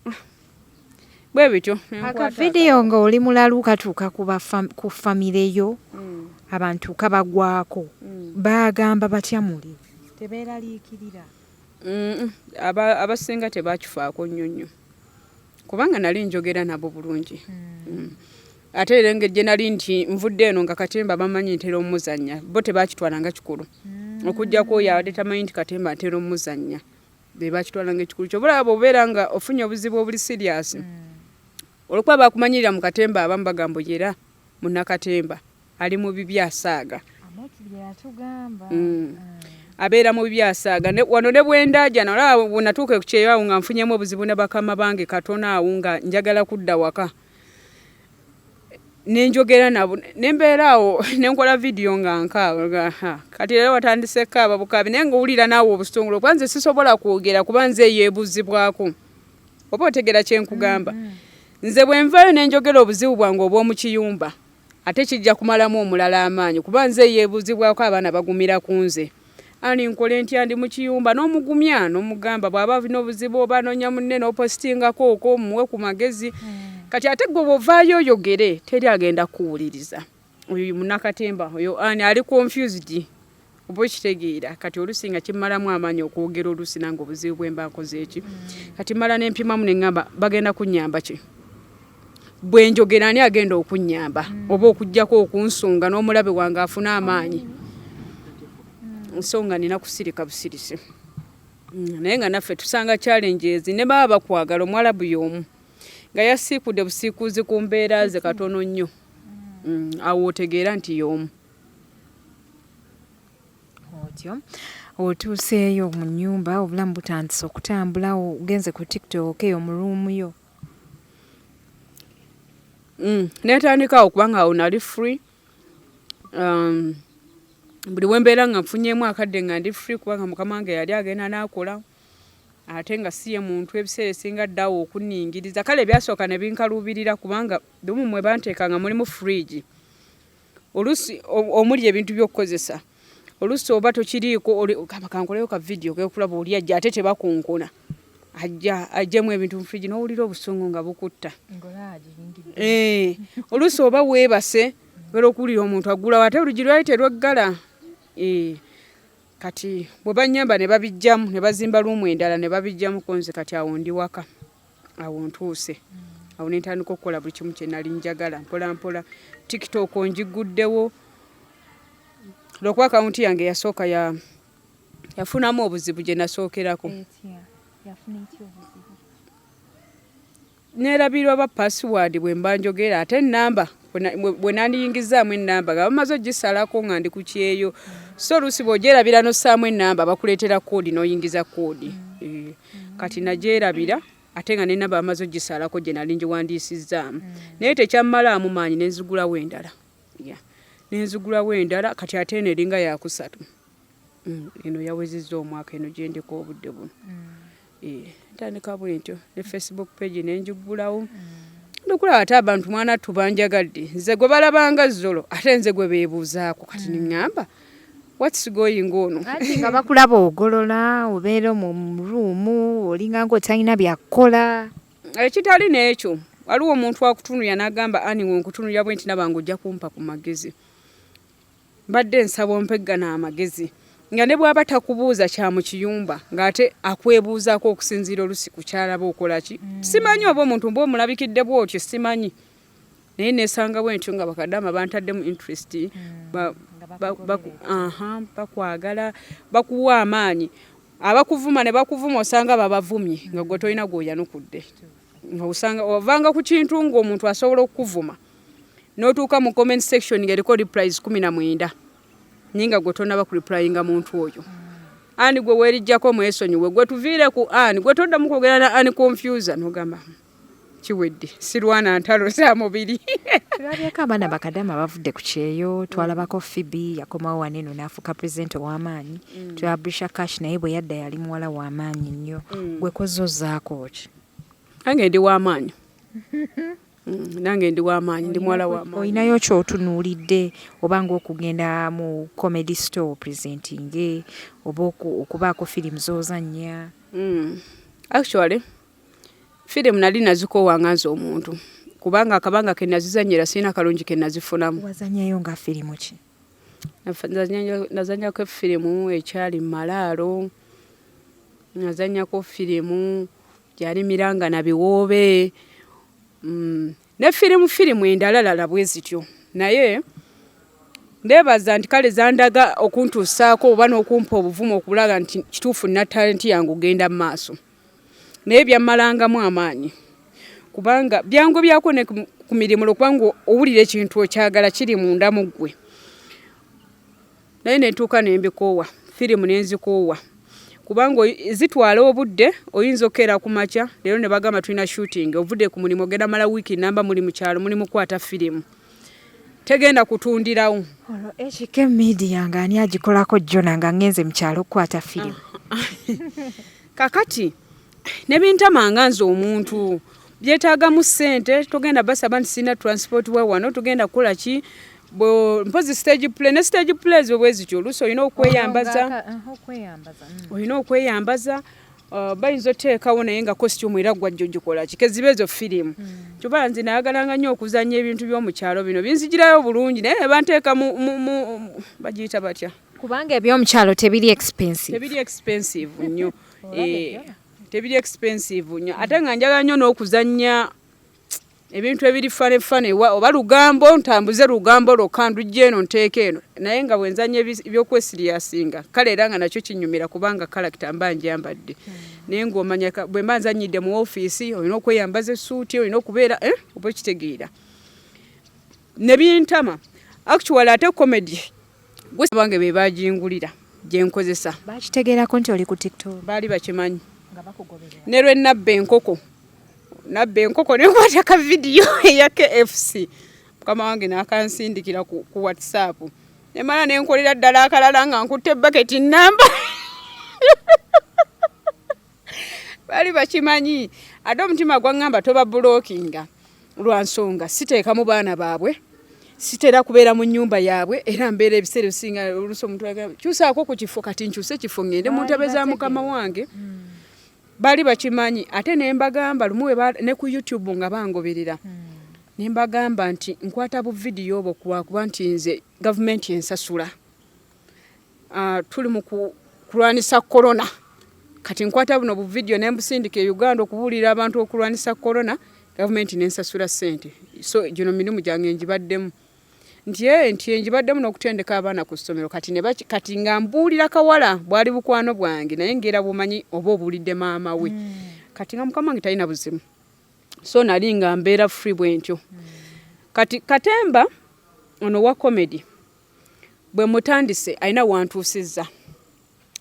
Ah. Bwe bityo. Aka video nga oli mulalu katuka kuba fam, ku family yo. Mm. Abantu kabagwako. Mm. Bagamba batya muli. Tebera likirira. Mm. Aba abasinga tebakifaako nyonyo. kubanga nali njogera nabo bulungi hmm. Hmm. ate era engeri gye nali nti nvudde eno nga katemba bamanyi ntera omuzannya bo tebakitwala nga kikulu hmm. okujjako oyo abadde tamanyi nti katemba ntera omuzannya be bakitwala nga ekikulu kyobalaba bwobeera nga ofunye obuzibu obuli siriyasi olwokuba bakumanyirira mu katemba abamu bagamba yera munnakatemba ali mu bibyo asaaga mm. abeera mu bibyo asaaga wano ne bwendaajana olaba bwenatuuka ekukyeyo awo nga nfunyemu obuzibu ne bakama bange katona awo nga njagala kudda waka nenjogera nabo nembeera awo nenkola vidiyo nga nkaaba kati era watandise kaaba bukaabi naye ngaowulira naawe obusitongole kuba nze sisobola kwogera kuba nze eyeebuzibwako oba otegera kyenkugamba mm -hmm. nze bwenvayo nenjogera obuzibu bwange obwomukiyumba ate kijja kumalamu omulala amaanyi kuba nze yebuuzibwako abaana bagumira ku nze ani nkole ntya ndi mukiyumba n'omugumya nomugamba bwaba alina obuzibu oba anonya munne nopositingako okwo muwe ku magezi mm. kati ate gwe bwovaayo oyogere teri agenda kuwuliriza oyo munakatemba oyo ani ali confused oba okitegeera kati olusi nga kimalamu amaanyi okwogera olusi nange obuzibu bwemba nkoze eki kati mala nempimamu neŋamba bagenda kunyamba ki bwenjogera ani agenda okunyamba oba okugjako okunsonga n'omulabe wange afuna amaanyi nsonga nina kusirika busirisi mm, naye nga naffe tusanga challenges ne baba bakwagala omwalabu yomu nga yasiikude busiikuuzi ku mbeera ze katono nnyo mm, awo otegeera nti y'omu otyo otuuseeyo mu nnyumba obulamu butandise okutambula ogenze ku tiktok eyo mu ruumu yo mm, netandikawo kubanga awo nali free um, buli wembeera nga nfunyemu akadde nga ndi free kubanga mukama wange yali agenda nakola ate nga si ye muntu ebiseera esinga addawo okuningiriza kale ebyasooka ne binkaluubirira kubanga lumu mwe banteeka nga mulimu fridge oluusi omuli ebintu by'okukozesa oluusi oba tokiriiko kankoleyo ka vidiyo kekulaba oli ajja ate tebakunkuna ajja ajjemu ebintu mu fridge n'owulira obusungu nga bukutta eh, oluusi oba weebase obeera okuwulira omuntu aggulawo ate oluggi lwali terweggala eh. kati bwe bannyamba ne babijjamu ne bazimba luumu endala ne babijjamu ko nze kati awo ndi waka awo ntuuse awo ne ntandika okukola buli kimu kye nali njagala mpolampola tiktok ngiguddewo lwokuba akawunti yange yasooka ya yafunamu obuzibu gye nasookerako Neerabira oba paasiwaadi bwe mba njogera ate ennamba bwe nandiyingizaamu ennamba nga bamaze ogisalako nga ndi ku kyeyo so oluusi bw'ogyerabira n'ossaamu ennamba bakuleetera koodi n'oyingiza koodi eh, kati nagyerabira ate nga n'ennamba bamaze ogisalako gye nali ngiwandiisizzaamu mm. naye tekyammalaamu maanyi ne nzigulawo endala ne nzigulawo endala kati ate eno eringa yakusatu Mm, eno yawezezza omwaka eno gyendeka obudde buno mm. eh, ntandika bwentyo ne facebook page nenjigulawo mm. nokulaba ate abantu mwana tubanjagadde nze gwe balabanga zolo ate nze gwe bebuuzaako kati niŋamba whats going on nga bakulaba ogolola obeera mu ruumu olinganga otalina byakukola ekitali n'ekyo waliwo omuntu akutunulira n'agamba aniwe nkutunulira bwe nti nabanga ojja kumpa ku magezi Mbadde nsaba ompe gano amagezi nga ne bw'aba takubuuza kya mu kiyumba ng'ate akwebuuzaako okusinziira olusi ku kyalaba okola ki mm. simanyi oba omuntu mba omulabikidde bw'otyo simanyi naye nesanga bwentyo nga bakadama bantaddemu interest mm. bakwagala bakuwa amaanyi abakuvuma ne bakuvuma osanga babavumye nga gwe tolina gwoyanukudde nga osanga ovanga ku kintu ng'omuntu asobola okukuvuma notuuka mu comment section nga eriko replies kumi na mwenda naye nga gwe tonaba ku replyinga muntu oyo ani gwe werijjako mwesonyiwe gwe tuviire ku ani gwe toddamu kwogera na ani confusa nogamba kiwedde sirwana ntalo za mubiri tulabyeko abaana bakadama bavudde ku kyeyo twalabako fibi yakomawo waneno naafuuka president ow'amaanyi mm. twabrisha cash naye bwe yadda yali muwala w'amaanyi nnyo mm. gwe kozozaako ki ange ndi w'amaanyi Mm, nange ndi wamaanyi ndi muwala wamaanyi olinayo kyotunuulidde oba ngaokugenda mu comedy store presenting oba okubaako firimu zozannya mm, actually firimu nali nazikoowa nga nze omuntu kubanga akabanga kenazizanyira sirina kalungi kenazifunamu wazanyayo nga firimu ki nazanyako efirimu ekyali malaalo nazanyako firimu gyalimiranga na biwoobe mm, ne firimu firimu endalalala bwe zityo naye ndeebaza nti kale zandaga okuntuusaako oba n'okumpa obuvumu okulaga nti kituufu nna talenti yange ogenda mu maaso naye byammalangamu amaanyi kubanga byangu byako ne ku mirimu lwokubanga owulira ekintu okyagala kiri munda mu ggwe naye ne ntuuka ne mbikoowa firimu ne nzikoowa kubanga zitwala obudde oyinza okukeera ku makya leero ne bagamba tulina shooting ovudde ku mulimu ogenda mala wiiki namba muli mu kyalo muli mukwata firimu tegenda kutundirawo olwo ekika emidiya nga ani agikolako jona nga ngenze mu kyalo okukwata firimu kakati nebintamanga nze omuntu byetaagamu ssente togenda basaba nti sirina transport wa wano tugenda kukola ki mpozi stage play ne stage plays bwe bwezityo oluusi olina okweyambaza mm. olina okweyambaza uh, bayinza oteekawo naye nga costume era gwajjo gikola ki keziba ezo firimu mm. kyoba nze nayagalanga nnyo okuzanya ebintu by'omukyalo bino binzigirayo bulungi naye nebanteeka bagiyita batya kubanga ebyomukyalo tebiri expensive tebiri expensive nnyo tebiri expensive nyo ate nga njagala nyo n'okuzannya ebintu ebiri fane fane oba lugambo ntambuze lugambo lwokka ndujja eno nteeka eno naye nga bwenzanya ebyokwesiriyasinga kale era nga nakyo kinyumira kubanga kalakita mba njambadde hmm. naye ngaomanya bwe mba nzanyidde mu ofiisi olina okweyambaza essuuti olina okubeera eh, oba okitegeera ne bintama actually ate comedy gusa bange be bajingulira gye nkozesa bakitegeerako nti oli ku tiktok baali bakimanyi ne lwe nabba enkoko nabba enkoko ne nkwata ka vidiyo eya kfc mukama wange n'akansindikira ku, ku whatsapp nemala nenkolera ddala akalala nga nkutte baketi namba bali bakimanyi ate omutima gwangamba toba bulokinga lwa nsonga siteeka mu baana baabwe sitera kubeera mu nyumba yaabwe era mbeera ebiseera ebisinga olusi omuntu kyusaako ku kifo kati nkyuse ekifo ngende mu ntebe za mukama wange hmm. baali bakimanyi ate ne mbagamba lumu ne ku youtube nga bangoberera hmm. ne mbagamba nti nkwata buvidiyo obwo kuba nti nze gavumenti ensasula uh, tuli mu kulwanisa corona kati nkwata buno buvidiyo ne mbusindika e uganda okubuulira abantu okulwanisa corona gavumenti nensasula sente so gino mirimu gyange ngibaddemu nti e nti engibaddemu n'okutendeka abaana ku ssomero kati ne kati nga mbuulira kawala bwali bukwano bwange naye ngeera bumanyi oba obuulidde maama we mm. kati nga mukama wange talina buzimu so nali nga mbeera free bwentyo mm. kati katemba ono wa comedy bwe mutandise alina wantuusizza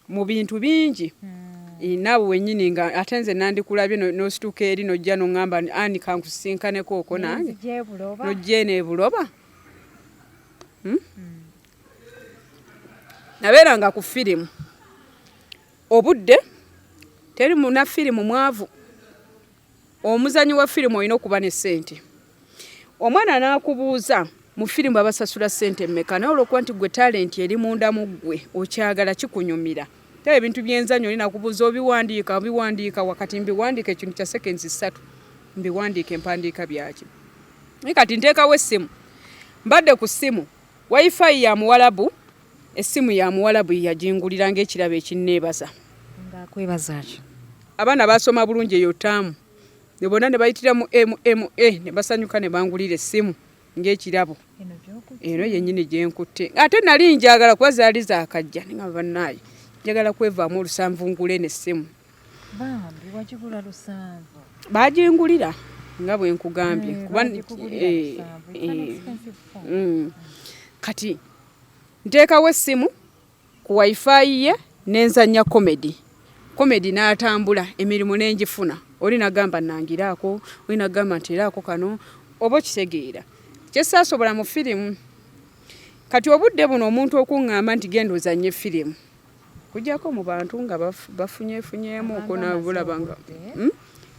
mu bintu bingi hmm. naawe wenyini nga ate nze nandikulabye nosituka eri nojja noŋamba ani kankusisinkaneko oko nange nojja eno ebuloba hmm? hmm. nabeeranga ku firimu obudde teri muna firimu mwavu omuzanyi wa firimu olina okuba ne sente omwana nakubuuza mu firimu babasasula sente meka naye olwokuba nti gwe talenti eri munda mu ggwe okyagala kikunyumira taba ebintu byenzanyo olina kubuuza obiwandiika obiwandiika wakati mbiwandiika ekintu kya sekensi ssatu mbiwandiika empandiika byaki naye kati nteekawo essimu mbadde ku ssimu wifi ya muwalabu Essimu ya muwalabu ye yagingulira ng'ekirabo ekinneebaza. Ng'akwebaza ki? Abaana baasoma bulungi eyo ttaamu ne bonna ne bayitira mu MMA ne basanyuka ne bangulira essimu ng'ekirabo. Eno yennyini gye nkutte. Ate nali njagala kuba zaali zaakajja ne ngamba bannaaye njagala kwevaamu olusanvu ngule n'essimu. Bambi wagigula lusanvu? Baagingulira nga bwe nkugambye. Eh, kuba, eh, eh, mm. Kati Nteekawo essimu ku wifi ye ne nzannya komedi. Komedi n'atambula emirimu ne ngifuna. Oli n'agamba nnangiraako, oli n'agamba nteeraako kano oba okitegeera. Kye saasobola mu firimu. Kati obudde buno omuntu okuŋŋamba nti genda ozannye firimu. kujako mu bantu nga bafunyefunyeemu okunabulaba nga hmm?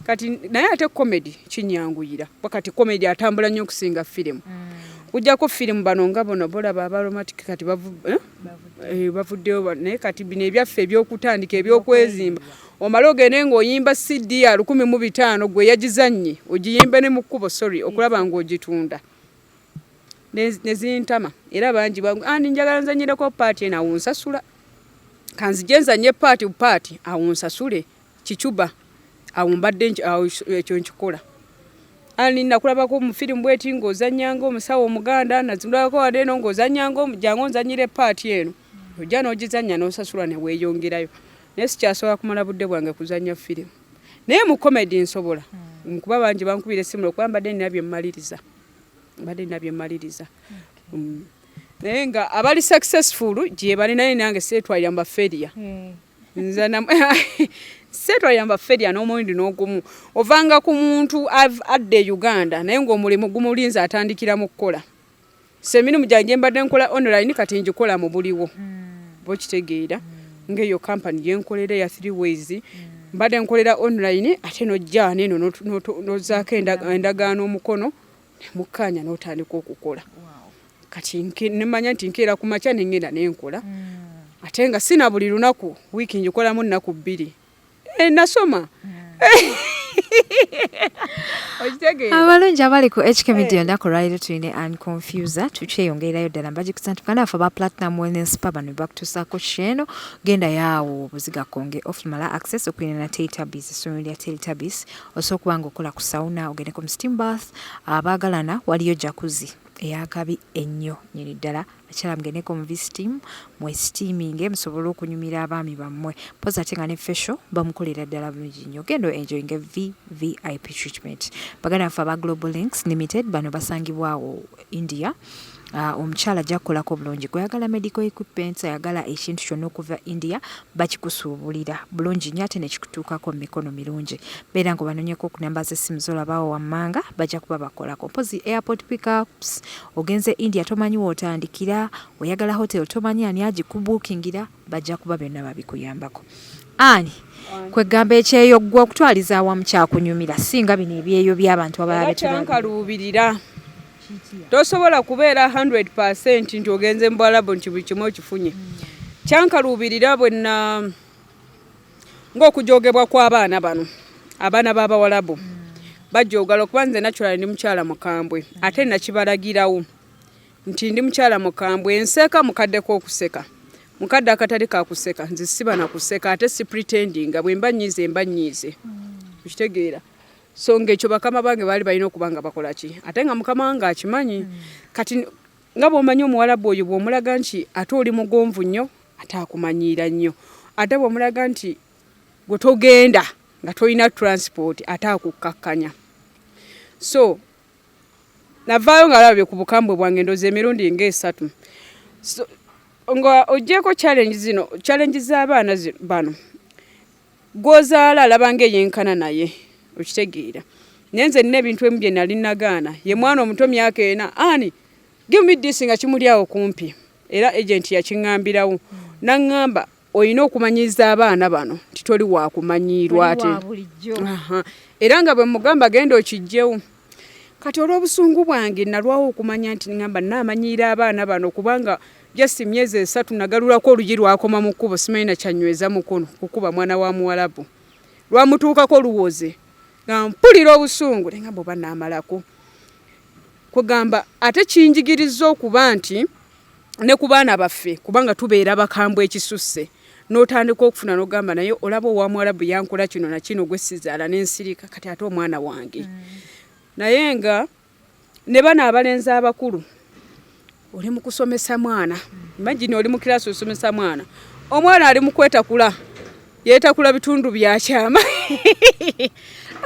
kati naye ate komedi kinyanguyira wakati komedi atambula nnyo okusinga firimu hmm. kujako firimu bano nga bono bolaba abaromatic kati eh? Eh, bavuddeyo naye kati bino ebyaffe ebyokutandika ebyokwezimba omale ogende ng'oyimba cd ya lukumi mu bitaano gwe yagizannye ogiyimbe ne mu kkubo sorry okulaba ng'ogitunda ne zintama era bangi bangu andi njagala nzanyireko paati eno awo nsasula kanzije nzanye paati paati awo nsasule kicuba awo mbadde ekyo nkikola ani nakulabako mu firimu bweti ng'ozanyanga omusawo omuganda nazirako wade eno ng'ozanyanga omujango nzanyire paati eno ojja n'ogizanya n'osasula ne weeyongerayo naye sikyasobola kumala budde bwange kuzanya firimu naye mu komedi nsobola hmm. nkuba bangi bankubira essimu lwokuba mbadde nina bye mmaliriza mbadde nina bye mmaliriza mm. naye nga abali successful gye bali naye nange seetwalira mu baferiya hmm. nze seetwalira mu baferiya n'omulundi n'ogumu ovanga ku muntu adda e uganda naye ng'omulimu gumulinze atandikira mu kukola semirimu gyange mbadde nkola online kati ngikola mu buliwo hmm. bokitegeera hmm. ng'eyo kampani gye nkolera eya three ways mbadde nkolera online ate nojja neeno nozaako endagaano omukono nemukkaanya n'otandika okukola kati nemanya nti nkeera ku makya nengenda nenkola hmm. ate nga sina buli lunaku wiiki ngikolamu nnaku bbiri Eh, nasoma abalungi abali ku hk media ennaku eh. lwaliro tulina an confuser tukyeyongererayo ddala mbagikusa nti muganda waffe aba platinum wellness pa bano bebakutuusaako kyeeno genda yaawo obuziga konge ofumala access okulina na teletabis essomero lya teletabis osobola okuba nga okola ku sauna ogende ku msteam bath abaagalana waliyo jakuzi eyakabi ennyo nyini ddala abakyala mugendeko mu visitiimu mwesitiiminge musobole okunyumira abaami bammwe mpozi ate nga ne fesho bamukolera ddala bulungi nnyo genda enjoyinga vvip treatment baganda baffe aba global links limited bano basangibwawo india Ah, omukyala ajja kukolako bulungi gweyagala medical equipments ayagala ekintu kyonna okuva india bakikusuubulira bulungi nnyo ate nekikutuukako mu mikono mirungi beera nga obanonyeko ku namba z'essimu z'olabaawo wammanga bajja kuba bakolako mpozi airport pickups ogenze india tomanyi wootandikira oyagala hotel tomanyi ani agikubuukingira bajja kuba byonna babikuyambako ani kwegamba ekyeyo gwe okutwaliza awamu kyakunyumira singa bino ebyeyo by'abantu abalala betankaluubirira tosobola kubeera 100 nti ogenze mu bwalabu nti buli kimu okifunye kyankaluubirira bwenna ng'okujogebwa kw'abaana bano abaana b'abawalabu bajogala okuba nze naculala ndi mukyala mukambwe ate nakibalagirawo nti ndi mukyala mukambwe enseeka mukadde k'okuseka mukadde akatali kakuseka nze siba nakuseka ate sipretendinga bwemba nyiize mba nyiize okitegeera mm. so ng'ekyo bakama bange baali balina okuba nga bakola ki ate nga mukama wange akimanyi hmm. kati nga bw'omanyi omuwalabu oyo bw'omulaga nti ate oli mugonvu nnyo ate akumanyiira nnyo ate bw'omulaga nti gwe togenda nga tolina transport ate akukkakkanya so navaayo nga labye ku bukambwe bwange ndoza emirundi ng'esatu nga ogyeko challenge zino challenge z'abaana bano Gw'ozaala alaba nga eyenkana naye. Okitegeera. Naye nze nnina ebintu ebimu bye nnali nnagaana. Ye mwana omuto myaka ena. Ani? Give me this nga kimuli awo kumpi. Era ejenti yakiŋŋambirawo. N'aŋŋamba olina okumanyiiza abaana bano nti toli wa kumanyiirwa ate. Era nga bwe mmugamba genda okiggyewo. kati olw'obusungu bwange nalwawo okumanya nti ngamba naamanyiira abaana bano kubanga just myezi esatu nagalulako olugi lwakoma mu kkubo simanyi nakyanyweza mukono kukuba mwana wa muwalabu lwamutuukako luwoze nga mpulira obusungu nengamba oba naamalako kugamba ate kinjigiriza okuba nti ne ku baana baffe kubanga tubeera bakambwe ekisusse n'otandika okufuna n'ogamba naye olaba owa muwarabu yankola kino na kino gwe sizaala ne nsirika kati ate omwana wange mm. naye nga ne bano abalenzi abakulu oli mu kusomesa mwana imagine oli mu kirasi osomesa mwana omwana ali mu kwetakula yetakula bitundu byakyama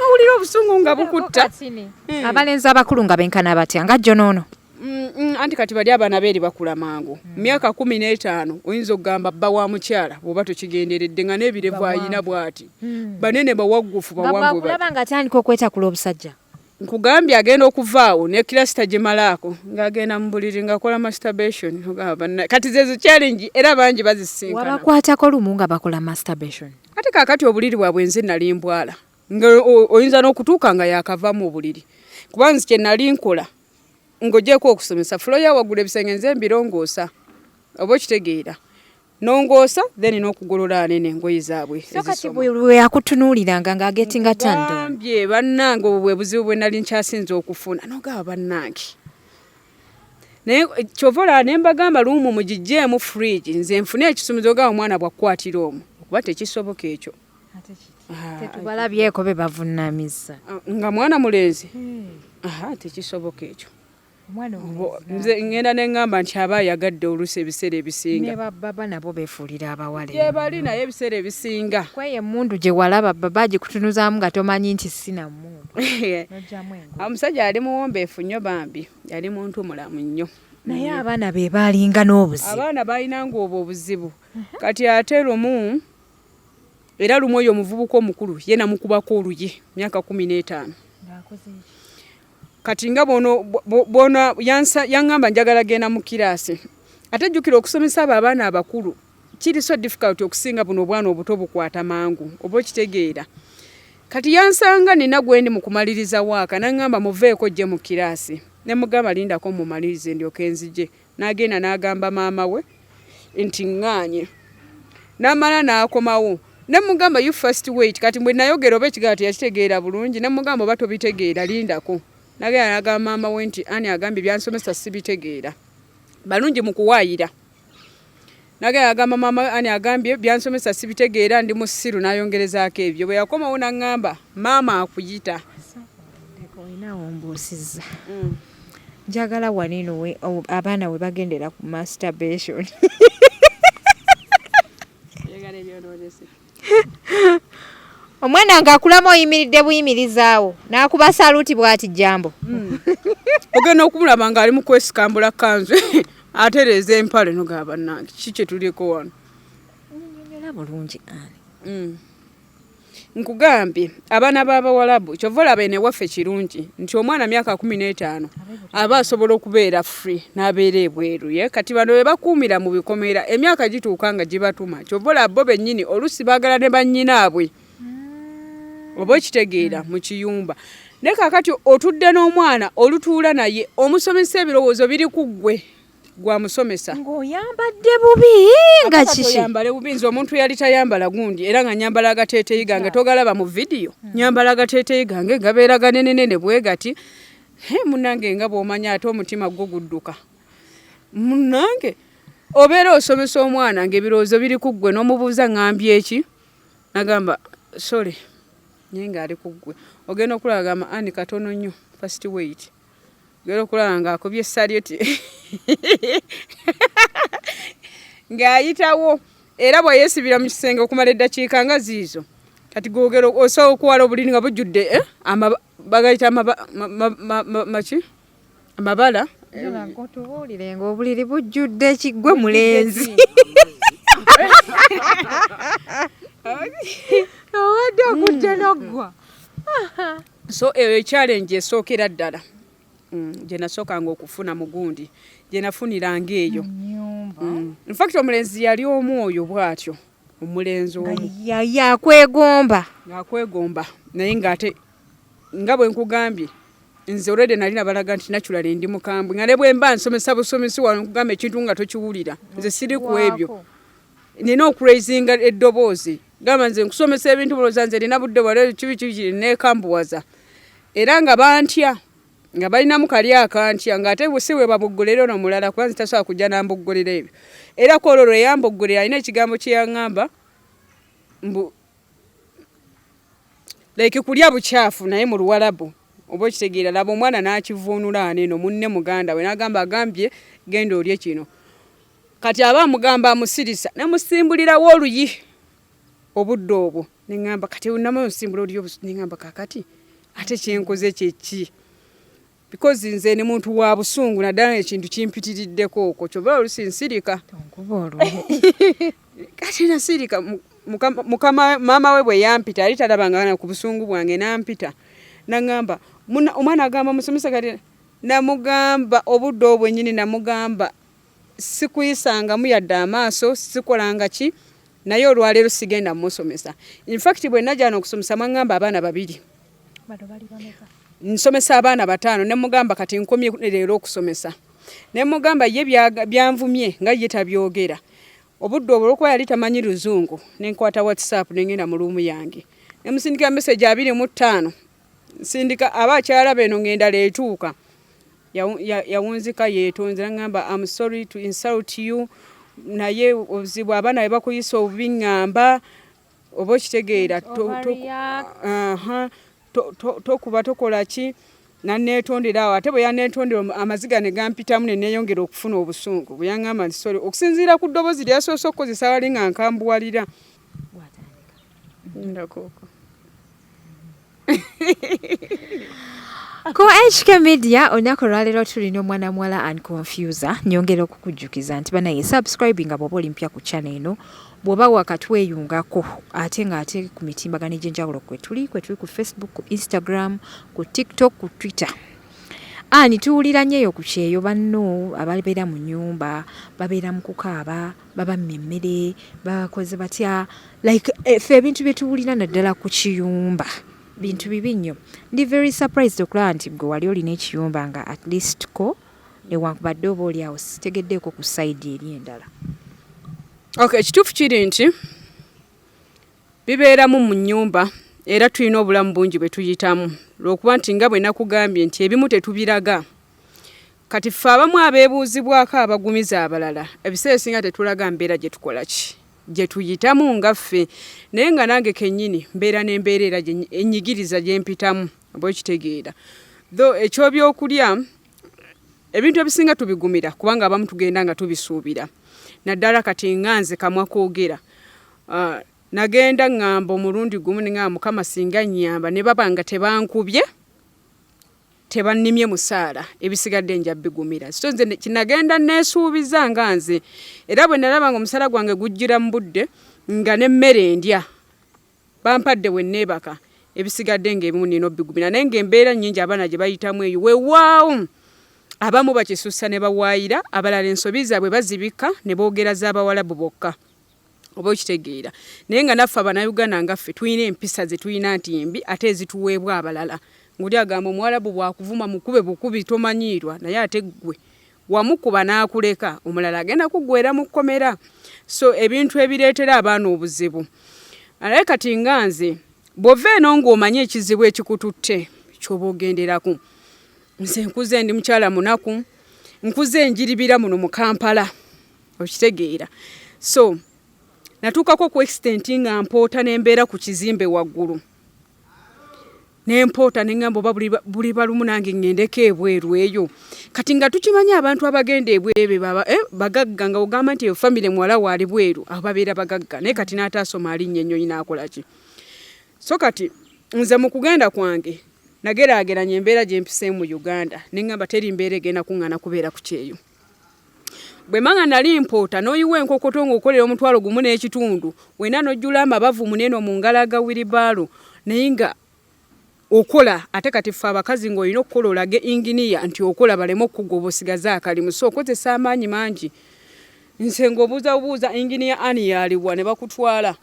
awulira obusungu nga bukutta hmm. abalenzi abakulu nga benkana batya nga jjo noono Mm, mm, anti kati bali abaana beeri bakula mangu mm. myaka kumi n'etaano oyinza okugamba bba wa mukyala bwoba tokigenderedde nga n'ebirevu ayina bwati hmm. banene bawaggufu bawanguulaba nga atandika okwetakula obusajja nkugambye agenda okuvaawo ne kilasita gimalaako ng'agenda mu buliri ng'akola masturbation kati zezo challenge era bangi bazisinkana wabakwatako lumu nga bakola masturbation ate kakati obuliri bwabwe nze nali mbwala nga oyinza n'okutuuka nga yakava mu buliri kuba nzi kye nali nkola ng'ogyeko okusomesa fulo ya waggulu ebisenge nze mbirongoosa oba okitegeera nongoosa then n'okugolola anene engoye zaabwe so kati bweyakutunuuliranga ng'agetinga tandambye bannange obwo bwe buzibu bwe nali nkyasinza okufuna nogaba bannange naye eh, kyova olaba ne mbagamba luumu mugijjeemu fridge nze nfune ekisumizogaba omwana bwakukwatira omu okuba tekisoboka ekyo ah, tetubalabyeko be bavunnamizza ah, nga mwana mulenzi hmm. tekisoboka ekyo nze ngenda neŋŋamba nti aba ayagadde oluusi ebiseera ebisinga ne bababa nabo beefuulira abawala gyebali naye ebiseera ebisinga kweyo emmundu gye walaba baba agikutunuzaamu nga tomanyi nti sina mmundu omusajja yali muwombeefu nnyo bambi yali muntu mulamu nnyo naye abaana be baalinga n'obuzibu abaana baalinanga obwo obuzibu kati ate lumu era lumu oyo omuvubuka omukulu ye namukubako oluyi myaka kumi n'etaano kati nga bona yaŋŋamba njagala genda mu kiraasi ate jjukira okusomesa abo abaana abakulu kiri so difficult okusinga buno obwana obuto bukwata mangu oba okitegeera kati yansanga nina gwendi mu kumaliriza waaka naŋŋamba muveeko jje mu kiraasi ne mugamba lindako mumalirize ndyoka enzije N'agenda n'agamba maama we nti ŋŋaanye. N'amala n'akomawo ne mugamba you first wait kati bwe nayogera oba ekigambo teyakitegeera bulungi ne mugamba oba tobitegeera lindako. N'agenda n'agamba maama we nti ani agambye byansomesa sibitegeera balungi mu kuwaayira. Nagenda agamba maama we ani agambye byansomesa sibitegeera ndi musiru nayongerezaako ebyo bwe yakomawo nangamba maama akuyita olinawo mbuusiza mm. njagala wanino abaana we bagendera ku masturbation omwana nga akulama oyimiridde buyimirizaawo n'akuba saluuti bwati jambo hmm. ogenda okumulaba ng'ali mu kwesikambula kanzu atereeza empale nogaa bannange kiki kye tuliko wano nyonyola bulungi ani hmm. nkugambye abaana b'abawalabu kyova olaba eno ewaffe kirungi nti omwana myaka kumi n'etaano aba asobola okubeera free n'abeera ebweru ye kati bano be bakuumira mu bikomera emyaka gituuka nga gibatuma kyova olaba bo bennyini oluusi baagala ne bannyinaabwe hmm. oba okitegeera mu kiyumba naye kakati otudde n'omwana olutuula naye omusomesa ebirowoozo biri ku ggwe gwa musomesa ng'oyambadde bubi nga kiki oyambale bubi nze omuntu yali tayambala gundi era nga nyambala agateeteyi gange togalaba mu vidiyo hmm. nyambala agateeteyi gange gabeera ganenenene bwe gati he munange nga bw'omanya ate omutima gwo gudduka munange obeera osomesa omwana ng'ebirowoozo biri ku ggwe n'omubuuza ng'ambi eki nagamba sole naye ng'ali ku ggwe ogenda okulaba gamba ani katono nnyo fasiti weyiti Ngera okulaba ng'akubye salyuti ng'ayitawo era bwe yeesibira mu kisenge okumala eddakiika nga ziizo kati googera osobola okuwala obuliri nga bujjudde eh, bagayita maki amabala otubuulire ng'obuliri bujjudde ekiggwe mulenzi owadde okujja noggwa so eyo eh, challenge esookera ddala mm, gye nasookanga okufuna mu gundi gye nafuniranga eyo mm. infact omulenzi yali omu oyo bw'atyo omulenzi omu yakwegomba yakwegomba naye ng'ate nga bwe nkugambye nze olwedde nali nabalaga nti naculala endi mukambwe nga ne bwemba nsomesa busomesi wano nkugamba ekintu nga tokiwulira nze siri ku ebyo nina okuraisinga eddoboozi gamba nze nkusomesa ebintu buloza nze nina budde wale kibi kibi nekambuwaza era nga bantya nga balinamu kali akantya nga ate si we babuggulira ono mulala kuba nze tasobola kujja nambuggulira ebyo era ku olwo lwe yambuggulira alina ekigambo kye yaŋŋamba mbu like kulya bukyafu naye mu luwalabu oba okitegeera laba omwana n'akivuunula aneeno munne muganda we n'agamba agambye genda olye kino kati aba amugamba amusirisa nemusimbulirawo oluyi obudde obwo neŋamba kati nama osimbula oli neŋamba kakati ate kyenkoze kyeki because nze ne muntu wa busungu naddala ekintu kimpitiriddeko okwo kyova olusi nsirika kati nasirika mukama maama we bwe yampita yali talabangana ku busungu bwange nampita naŋamba omwana agamba musomesa kati namugamba obudde obwenyini namugamba sikuyisangamu yadde amaaso sikolanga ki naye olwaleero sigenda musomesa infact bwenajana okusomesa mwangamba abaana babiri nsomesa abaana bataano nemugamba kati nkomye leero okusomesa nemugamba ye byanvumye nga ye tabyogera obudde obwo olwokuba yali tamanyi luzungu nenkwata whatsapp nengenda mu luumu yange nemusindikira meseji abiri mu ttaano nsindika aba akyala beno ngendala etuuka yawunzika yetonze nagamba am sorry to insult you naye obuzibu abaana bwe bakuyisa obubi ŋŋamba oba okitegeera tokuba tokola ki naneetondera awo ate bwe yaneetondera amaziga ne gampitamu ne neeyongera okufuna obusungu bwe yaŋŋamba nti sole okusinziira ku ddoboozi lyasoose okukozesa wali nga nkambuwalira ndakuko ku HK Media olunaku olwaleero tulina omwana muwala and confuser nyongera okukujjukiza nti banaye subscribing nga bwoba olimpya ku channel eno bwoba wakatweyungako ate nga ate ku mitimbagano egy'enjawulo kwetuli kwetuli ku Facebook ku Instagram ku TikTok ku Twitter ani tuwulira nyo eyo ku kyeyo banno ababeera mu nyumba babeera mu kukaaba babamme emmere bakoze batya like eh, fe ebintu byetuwulira naddala ku kiyumba bintu bibi nnyo ndi very surprised okulaba nti gwe wali olina ekiyumba nga at least ko newankubadde oba oli awo sitegeddeeko ku saidi eri endala ok ekituufu kiri nti bibeeramu mu nnyumba era tulina obulamu bungi bwe tuyitamu lwokuba nti nga bwe nakugambye nti ebimu tetubiraga Kati ffe abamu abeebuuzibwako abagumiza abalala ebiseera ebisinga tetulaga mbeera gye tukola ki gye tuyitamu nga ffe naye nga nange kennyini mbeera n'embeera era ennyigiriza gye mpitamu oba okitegeera tho ekyobyokulya ebintu ebisinga tubigumira kubanga abamu tugenda nga tubisuubira naddala kati nga nze kamwa koogera ah, nagenda ŋŋamba omulundi gumu nga mukama singa nnyamba ne baba nga tebankubye tebannimye musaala ebisigadde nja bigumira so nze kinagenda neesuubiza nga nze era bwe nalaba nga omusaala gwange gujjira mu budde nga n'emmere endya bampadde bwe neebaka ebisigadde ng'ebimu nina obigumira naye ng'embeera nnyingi abaana gye bayitamu eyo wewaawo abamu bakisussa ne bawaayira abalala ensobi zaabwe bazibikka ne boogera z'abawalabu bokka oba okitegeera naye nga naffe abanauganda nga ffe tulina empisa zetulina nti mbi ate ezituweebwa abalala ngoli agamba omuwalabu bwakuvuma mukube bukubi tomanyiirwa naye ate ggwe wamukuba n'akuleka omulala agenda kuggwera mu kkomera so ebintu ebireetera abaana obuzibu alaye kati nga nze bw'ova eno ng'omanyi ekizibu ekikututte kyoba ogenderaku nze nkuze ndi mukyala munaku nkuze enjiribira muno mu kampala okitegeera so natuukako ku extent nga mpoota nembeera ku kizimbe waggulu nempoota neŋamba oba buli balumu nange ŋendeko ebweru eyo kati nga tukimanyi abantu abagenda ebweru baba eh, bagagga nga ogamba nti eyo famire muwala waali bweru aho babeera bagagga naye kati n'ataasoma alinnya ennyonyi naakolaki so kati nze mu kugenda kwange nageraageranya embeera gyempiseemu mu uganda neŋamba teri mbeera egenda kuŋŋana kubeera ku kyeyo bwe manga nali mpoota n'oyiwa enkokoto ng'okolera omutwalo gumu n'ekitundu wena n'ojjula amabavu muneeno mu ngalo aga wiribaalo naye nga okola ate kati ffe abakazi ng'olina okukola olage inginiya nti okola baleme okukugwa oba osigaze akalimu so okozesa amaanyi mangi nse ng'obuuza bubuuza inginiya ani yaaliwa ne bakutwala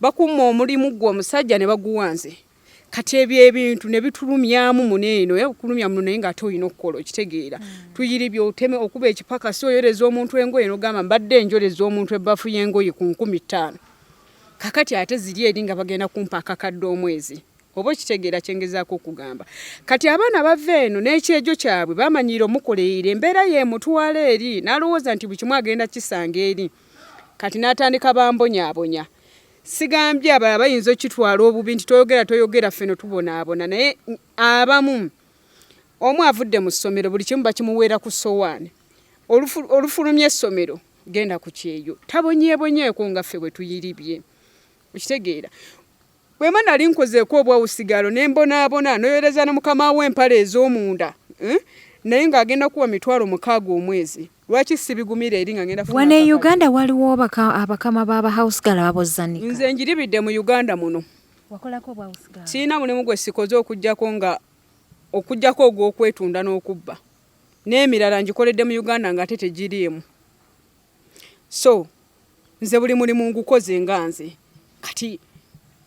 bakumma omulimu gwe omusajja ne baguwa nze kati ebyo ebintu ne bitulumyamu muno eno oya kukulumya muno naye ng'ate olina okukola okitegeera hmm. tuyiri byoteme okuba ekipaka si oyoreza omuntu engoye nogamba mbadde enjoreza omuntu ebbafu y'engoye ku nkumi ttaano kakati ate ziri eri nga bagenda kumpa akakadde omwezi oba okitegeera kyengezaako okugamba kati abaana bava eno n'ekyejo kyabwe bamanyiira omukoleire embeera yemutwala eri n'alowooza nti buli kimu agenda kisanga eri kati n'atandika bambonyabonya sigambye abalala bayinza okitwala obubi nti toyogera toyogera ffe no tubonaabona naye abamu omu avudde mu ssomero buli kimu bakimuweera ku sowaani olufulumya essomero genda ku kyeyo tabonyebonyeeko nga ffe bwe tuyiribye okitegeera bwema nali nkozeeko obwawusigalo ne mbonaabona noyoleza ne mukama wo empale ez'omunda eh? naye ng'agenda kuwa mitwalo mukaaga omwezi lwaki sibigumira eri nga ngenda wano e uganda waliwo abakama baba house gal abozzanika nze njiribidde mu uganda muno sirina mulimu gwe sikoze okujjako nga okujjako ogw'okwetunda n'okubba n'emirala ngikoledde mu uganda nga ate tegiriimu so nze buli mulimu ngukoze nga nze kati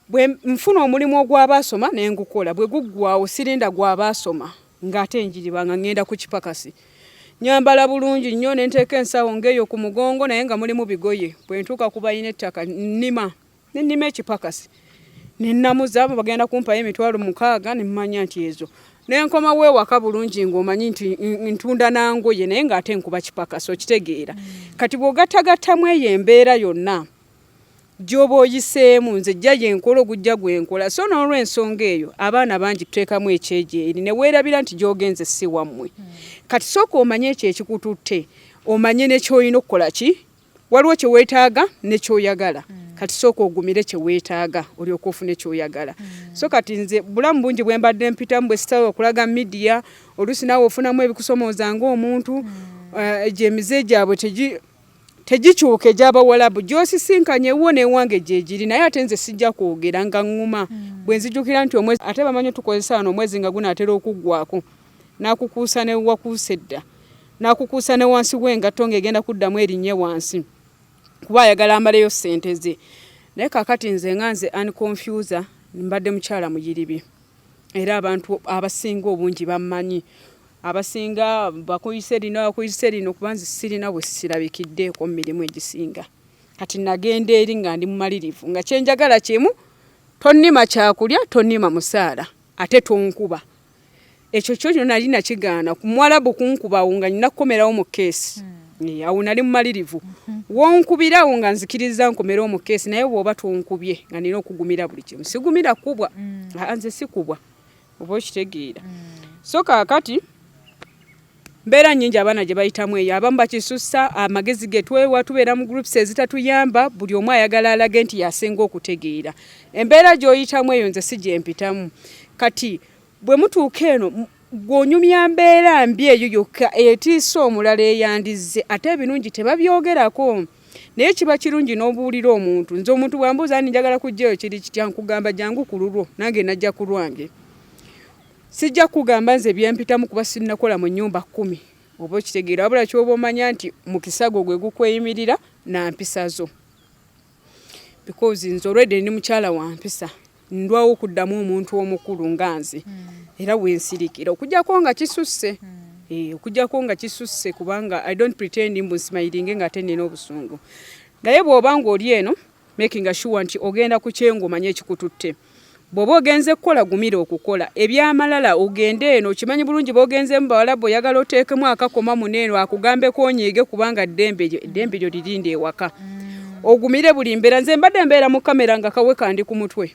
bwe nfuna omulimu ogw'abaasoma ne ngukola bwe guggwawo sirinda gw'abaasoma ng'ate njiriba nga ŋŋenda ku kipakasi nyambala bulungi nnyo ne nteeka ensawo ng'eyo ku mugongo naye nga mulimu bigoye bwe ntuuka ku balina ettaka nnima nenima ekipakasi nenamuza abo bagenda kumpayo emitwalo mukaaga nemumanya nti ezo nenkoma wewaka bulungi ngaomanyi nti ntunda nangoye naye ngaate nkuba kipakasi okitegeera kati bwogatagattamu eyo embeera yonna gyoba oyiseemu nze jja yenkola ogujja gwenkola so n'olwensonga eyo abaana bangi tuteekamu ekyejeeri ne weerabira nti gyogenze si wammwe kati sooka omanye ekyo ekikututte omanye nekyolina okukola ki waliwo kye weetaaga ne kyoyagala mm. kati sooka ogumire kye weetaaga olyoka ofuna ekyoyagala mm. so kati nze bulamu bungi bwe mbadde mpitamu bwe sitawo okulaga midiya oluusi naawe ofunamu ebikusomooza ng'omuntu mm. eh, egyo emize gyabwe tegikyuka egyabawalabu gyosisinkanye wo newange gyegiri naye ate nze sijja kwogera nga ŋŋuma mm. bwe nzijukira nti omwezi ate bamanyi tukozesa wano omwezi nga gunaatera okuggwako n'akukuusa ne wakuusa edda n'akukuusa ne wansi w'engatto ng'egenda kuddamu erinnye wansi kuba ayagala amaleyo ssente ze naye kakati nze nga nze unconfuser mbadde mukyala muyiribi era abantu abasinga obungi bammanyi abasinga bakuyise lino bakuyise lino kuba nze sirina bwe sirabikiddeeko mu mirimu egisinga kati nagenda eri nga ndi mumalirivu nga kyenjagala kimu tonnima kyakulya tonnima musaala ate tonkuba ekyo kyo kyo nali nakigaana ku mwalabu kunkubawo nga nina kukomerawo mu keesi hmm. awo nali mumalirivu hmm. wonkubirawo nga nzikiriza nkomere omu keesi naye bwoba tonkubye nga nina okugumira buli kimu sigumira kubwa hmm. nze sikubwa oba okitegeera so kakati mbeera nyingi abaana gye bayitamu eyo abamu bakisussa amagezi ge twewa tubeera mu groups ezitatuyamba buli omu ayagala alage nti yasinga okutegeera embeera gy'oyitamu eyo nze si gyempitamu kati bwe mutuuka eno gw'onyumya mbeera mbi eyo yokka etiisa omulala eyandizze ate ebirungi tebabyogerako naye kiba kirungi n'obuulira omuntu nze omuntu bwambuuza ni njagala kujjayo kiri kitya nkugamba jangu ku lulwo nange najja ku lwange Sijja kugamba nze byempitamu kuba sinnakola mu nnyumba kkumi oba okitegeera wabula kyoba omanya nti mukisago gwe gukweyimirira na mpisa zo because nze olwedde ndi mukyala wa mpisa ndwawo okuddamu omuntu omukulu nga nze hmm. era wensirikira okujjako nga kisusse hmm. eh, okujjako nga kisusse kubanga i don't pretend mbu nsimayiringe nga ate nina obusungu naye bw'oba nga oli eno making sure nti ogenda ku kyengo manye ekikututte bwoba ogenze kukola gumira okukola ebyamalala ogende eno okimanyi bulungi bogenze mu bawala bwe oyagala oteekemu akakoma muneeno akugambeko onyiige kubanga ddembe lyo eddembe lyo lirinde ewaka ogumire buli mbeera nze mbadde mbeera mu kamera nga kawe kandi ku mutwe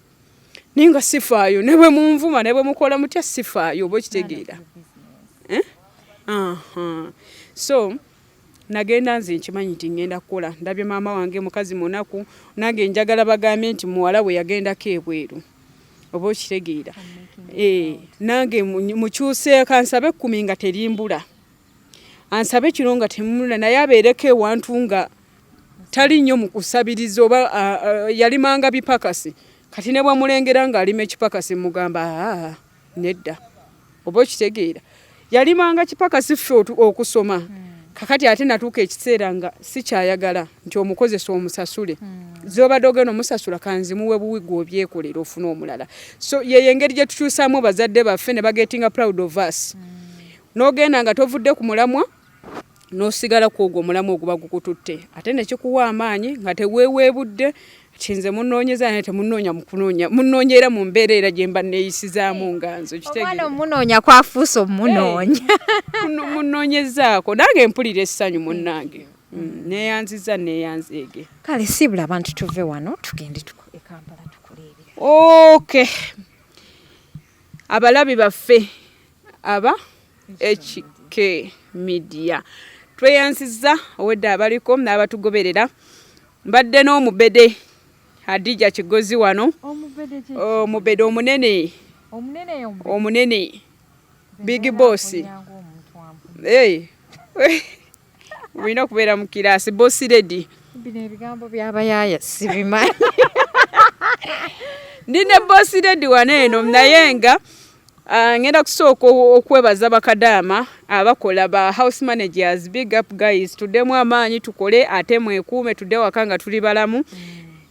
naye nga sifaayo ne bwe munvuma ne bwe mukola mutya sifaayo oba okitegeera eh? so nagenda nze nkimanyi nti ngenda kukola ndabye maama wange mukazi munaku nange njagala bagambye nti muwala we yagendako ebweru oba okitegeera eh, nange mukyuseeko ansabe ekkumi nga terimbula ansabe kino nga temula naye abeereko ewantu nga tali nnyo mu kusabiriza oba yalimanga bipakasi kati ne bwamulengera ng'alima ekipakasi mugamba aa nedda oba okitegeera yalimanga kipakasi ffe okusoma hmm. kakati ate natuuka ekiseera nga sikyayagala nti omukozesa omusasule hmm. zobadde ogenda omusasula kanzimuwe buwi gwe obyekolera ofuna omulala so yeyo engeri gye tukyusaamu bazadde baffe ne bagetinga proud of us hmm. n'ogenda nga tovudde ku mulamwa n'osigala ku ogwo omulamu oguba gukututte ate ne kikuwa amaanyi nga teweeweebudde nti nze munoonyeza naye temunoonya mukunoonya munoonya era mu mbeera era gye mba neeyisizaamu nga nze okitegomwana omunoonya kwafuusa omunoonya munoonyezaako nange mpulira essanyu munnange mm, neeyanziza neeyanzeege kale siibula abantu tuve wano tugende e kampala tukuleebera oke abalabi baffe aba HK Media tweyanziza owedde abaliko n'abatugoberera mbadde n'omubede Hadija Kigozi wano omubede omunene omunene big boss hey. Wino kubera mu kirasi boss lady. Bine bigambo bya bayaya sibimanyi. Ndine boss lady waneno mnayenga ah, ngenda kusooka okwebaza bakadaama abakola ba house managers big up guys tudemu amaanyi tukole ate mwekuume tudde waka nga tuli balamu mm.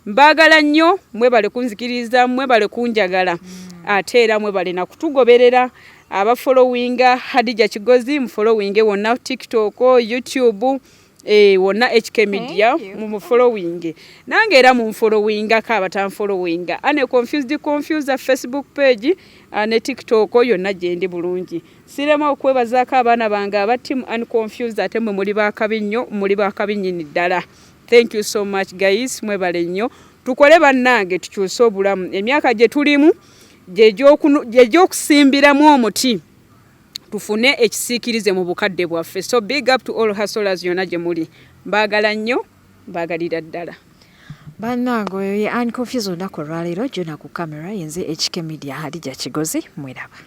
mbaagala nnyo mwebale kunzikiriza mwebale kunjagala mm. ate era mwebale nakutugoberera abafolowinga hadija kigozi mufolowinge wonna tiktok youtube eh, wonna hk media mumufolowinge nange era munfolowingako abatanfolowinga ane confused confuser facebook page ah, ne tiktok yonna gyendi bulungi sirema okwebazaako abaana bange aba team and confused ate mwe muli bakabi nnyo muli bakabi nyini ddala thank you so much guys mwebale nnyo tukole bannange tukyuse obulamu emyaka gye tulimu gyegyokusimbiramu omuti tufune ekisiikirize mu bukadde bwaffe so big up to all hustlers yona gye muli mbaagala nnyo mbaagalira ddala bannange oyo ye ani confuse olunaku olwaleero jona ku camera yenze ekike media hadija kigozi mwiraba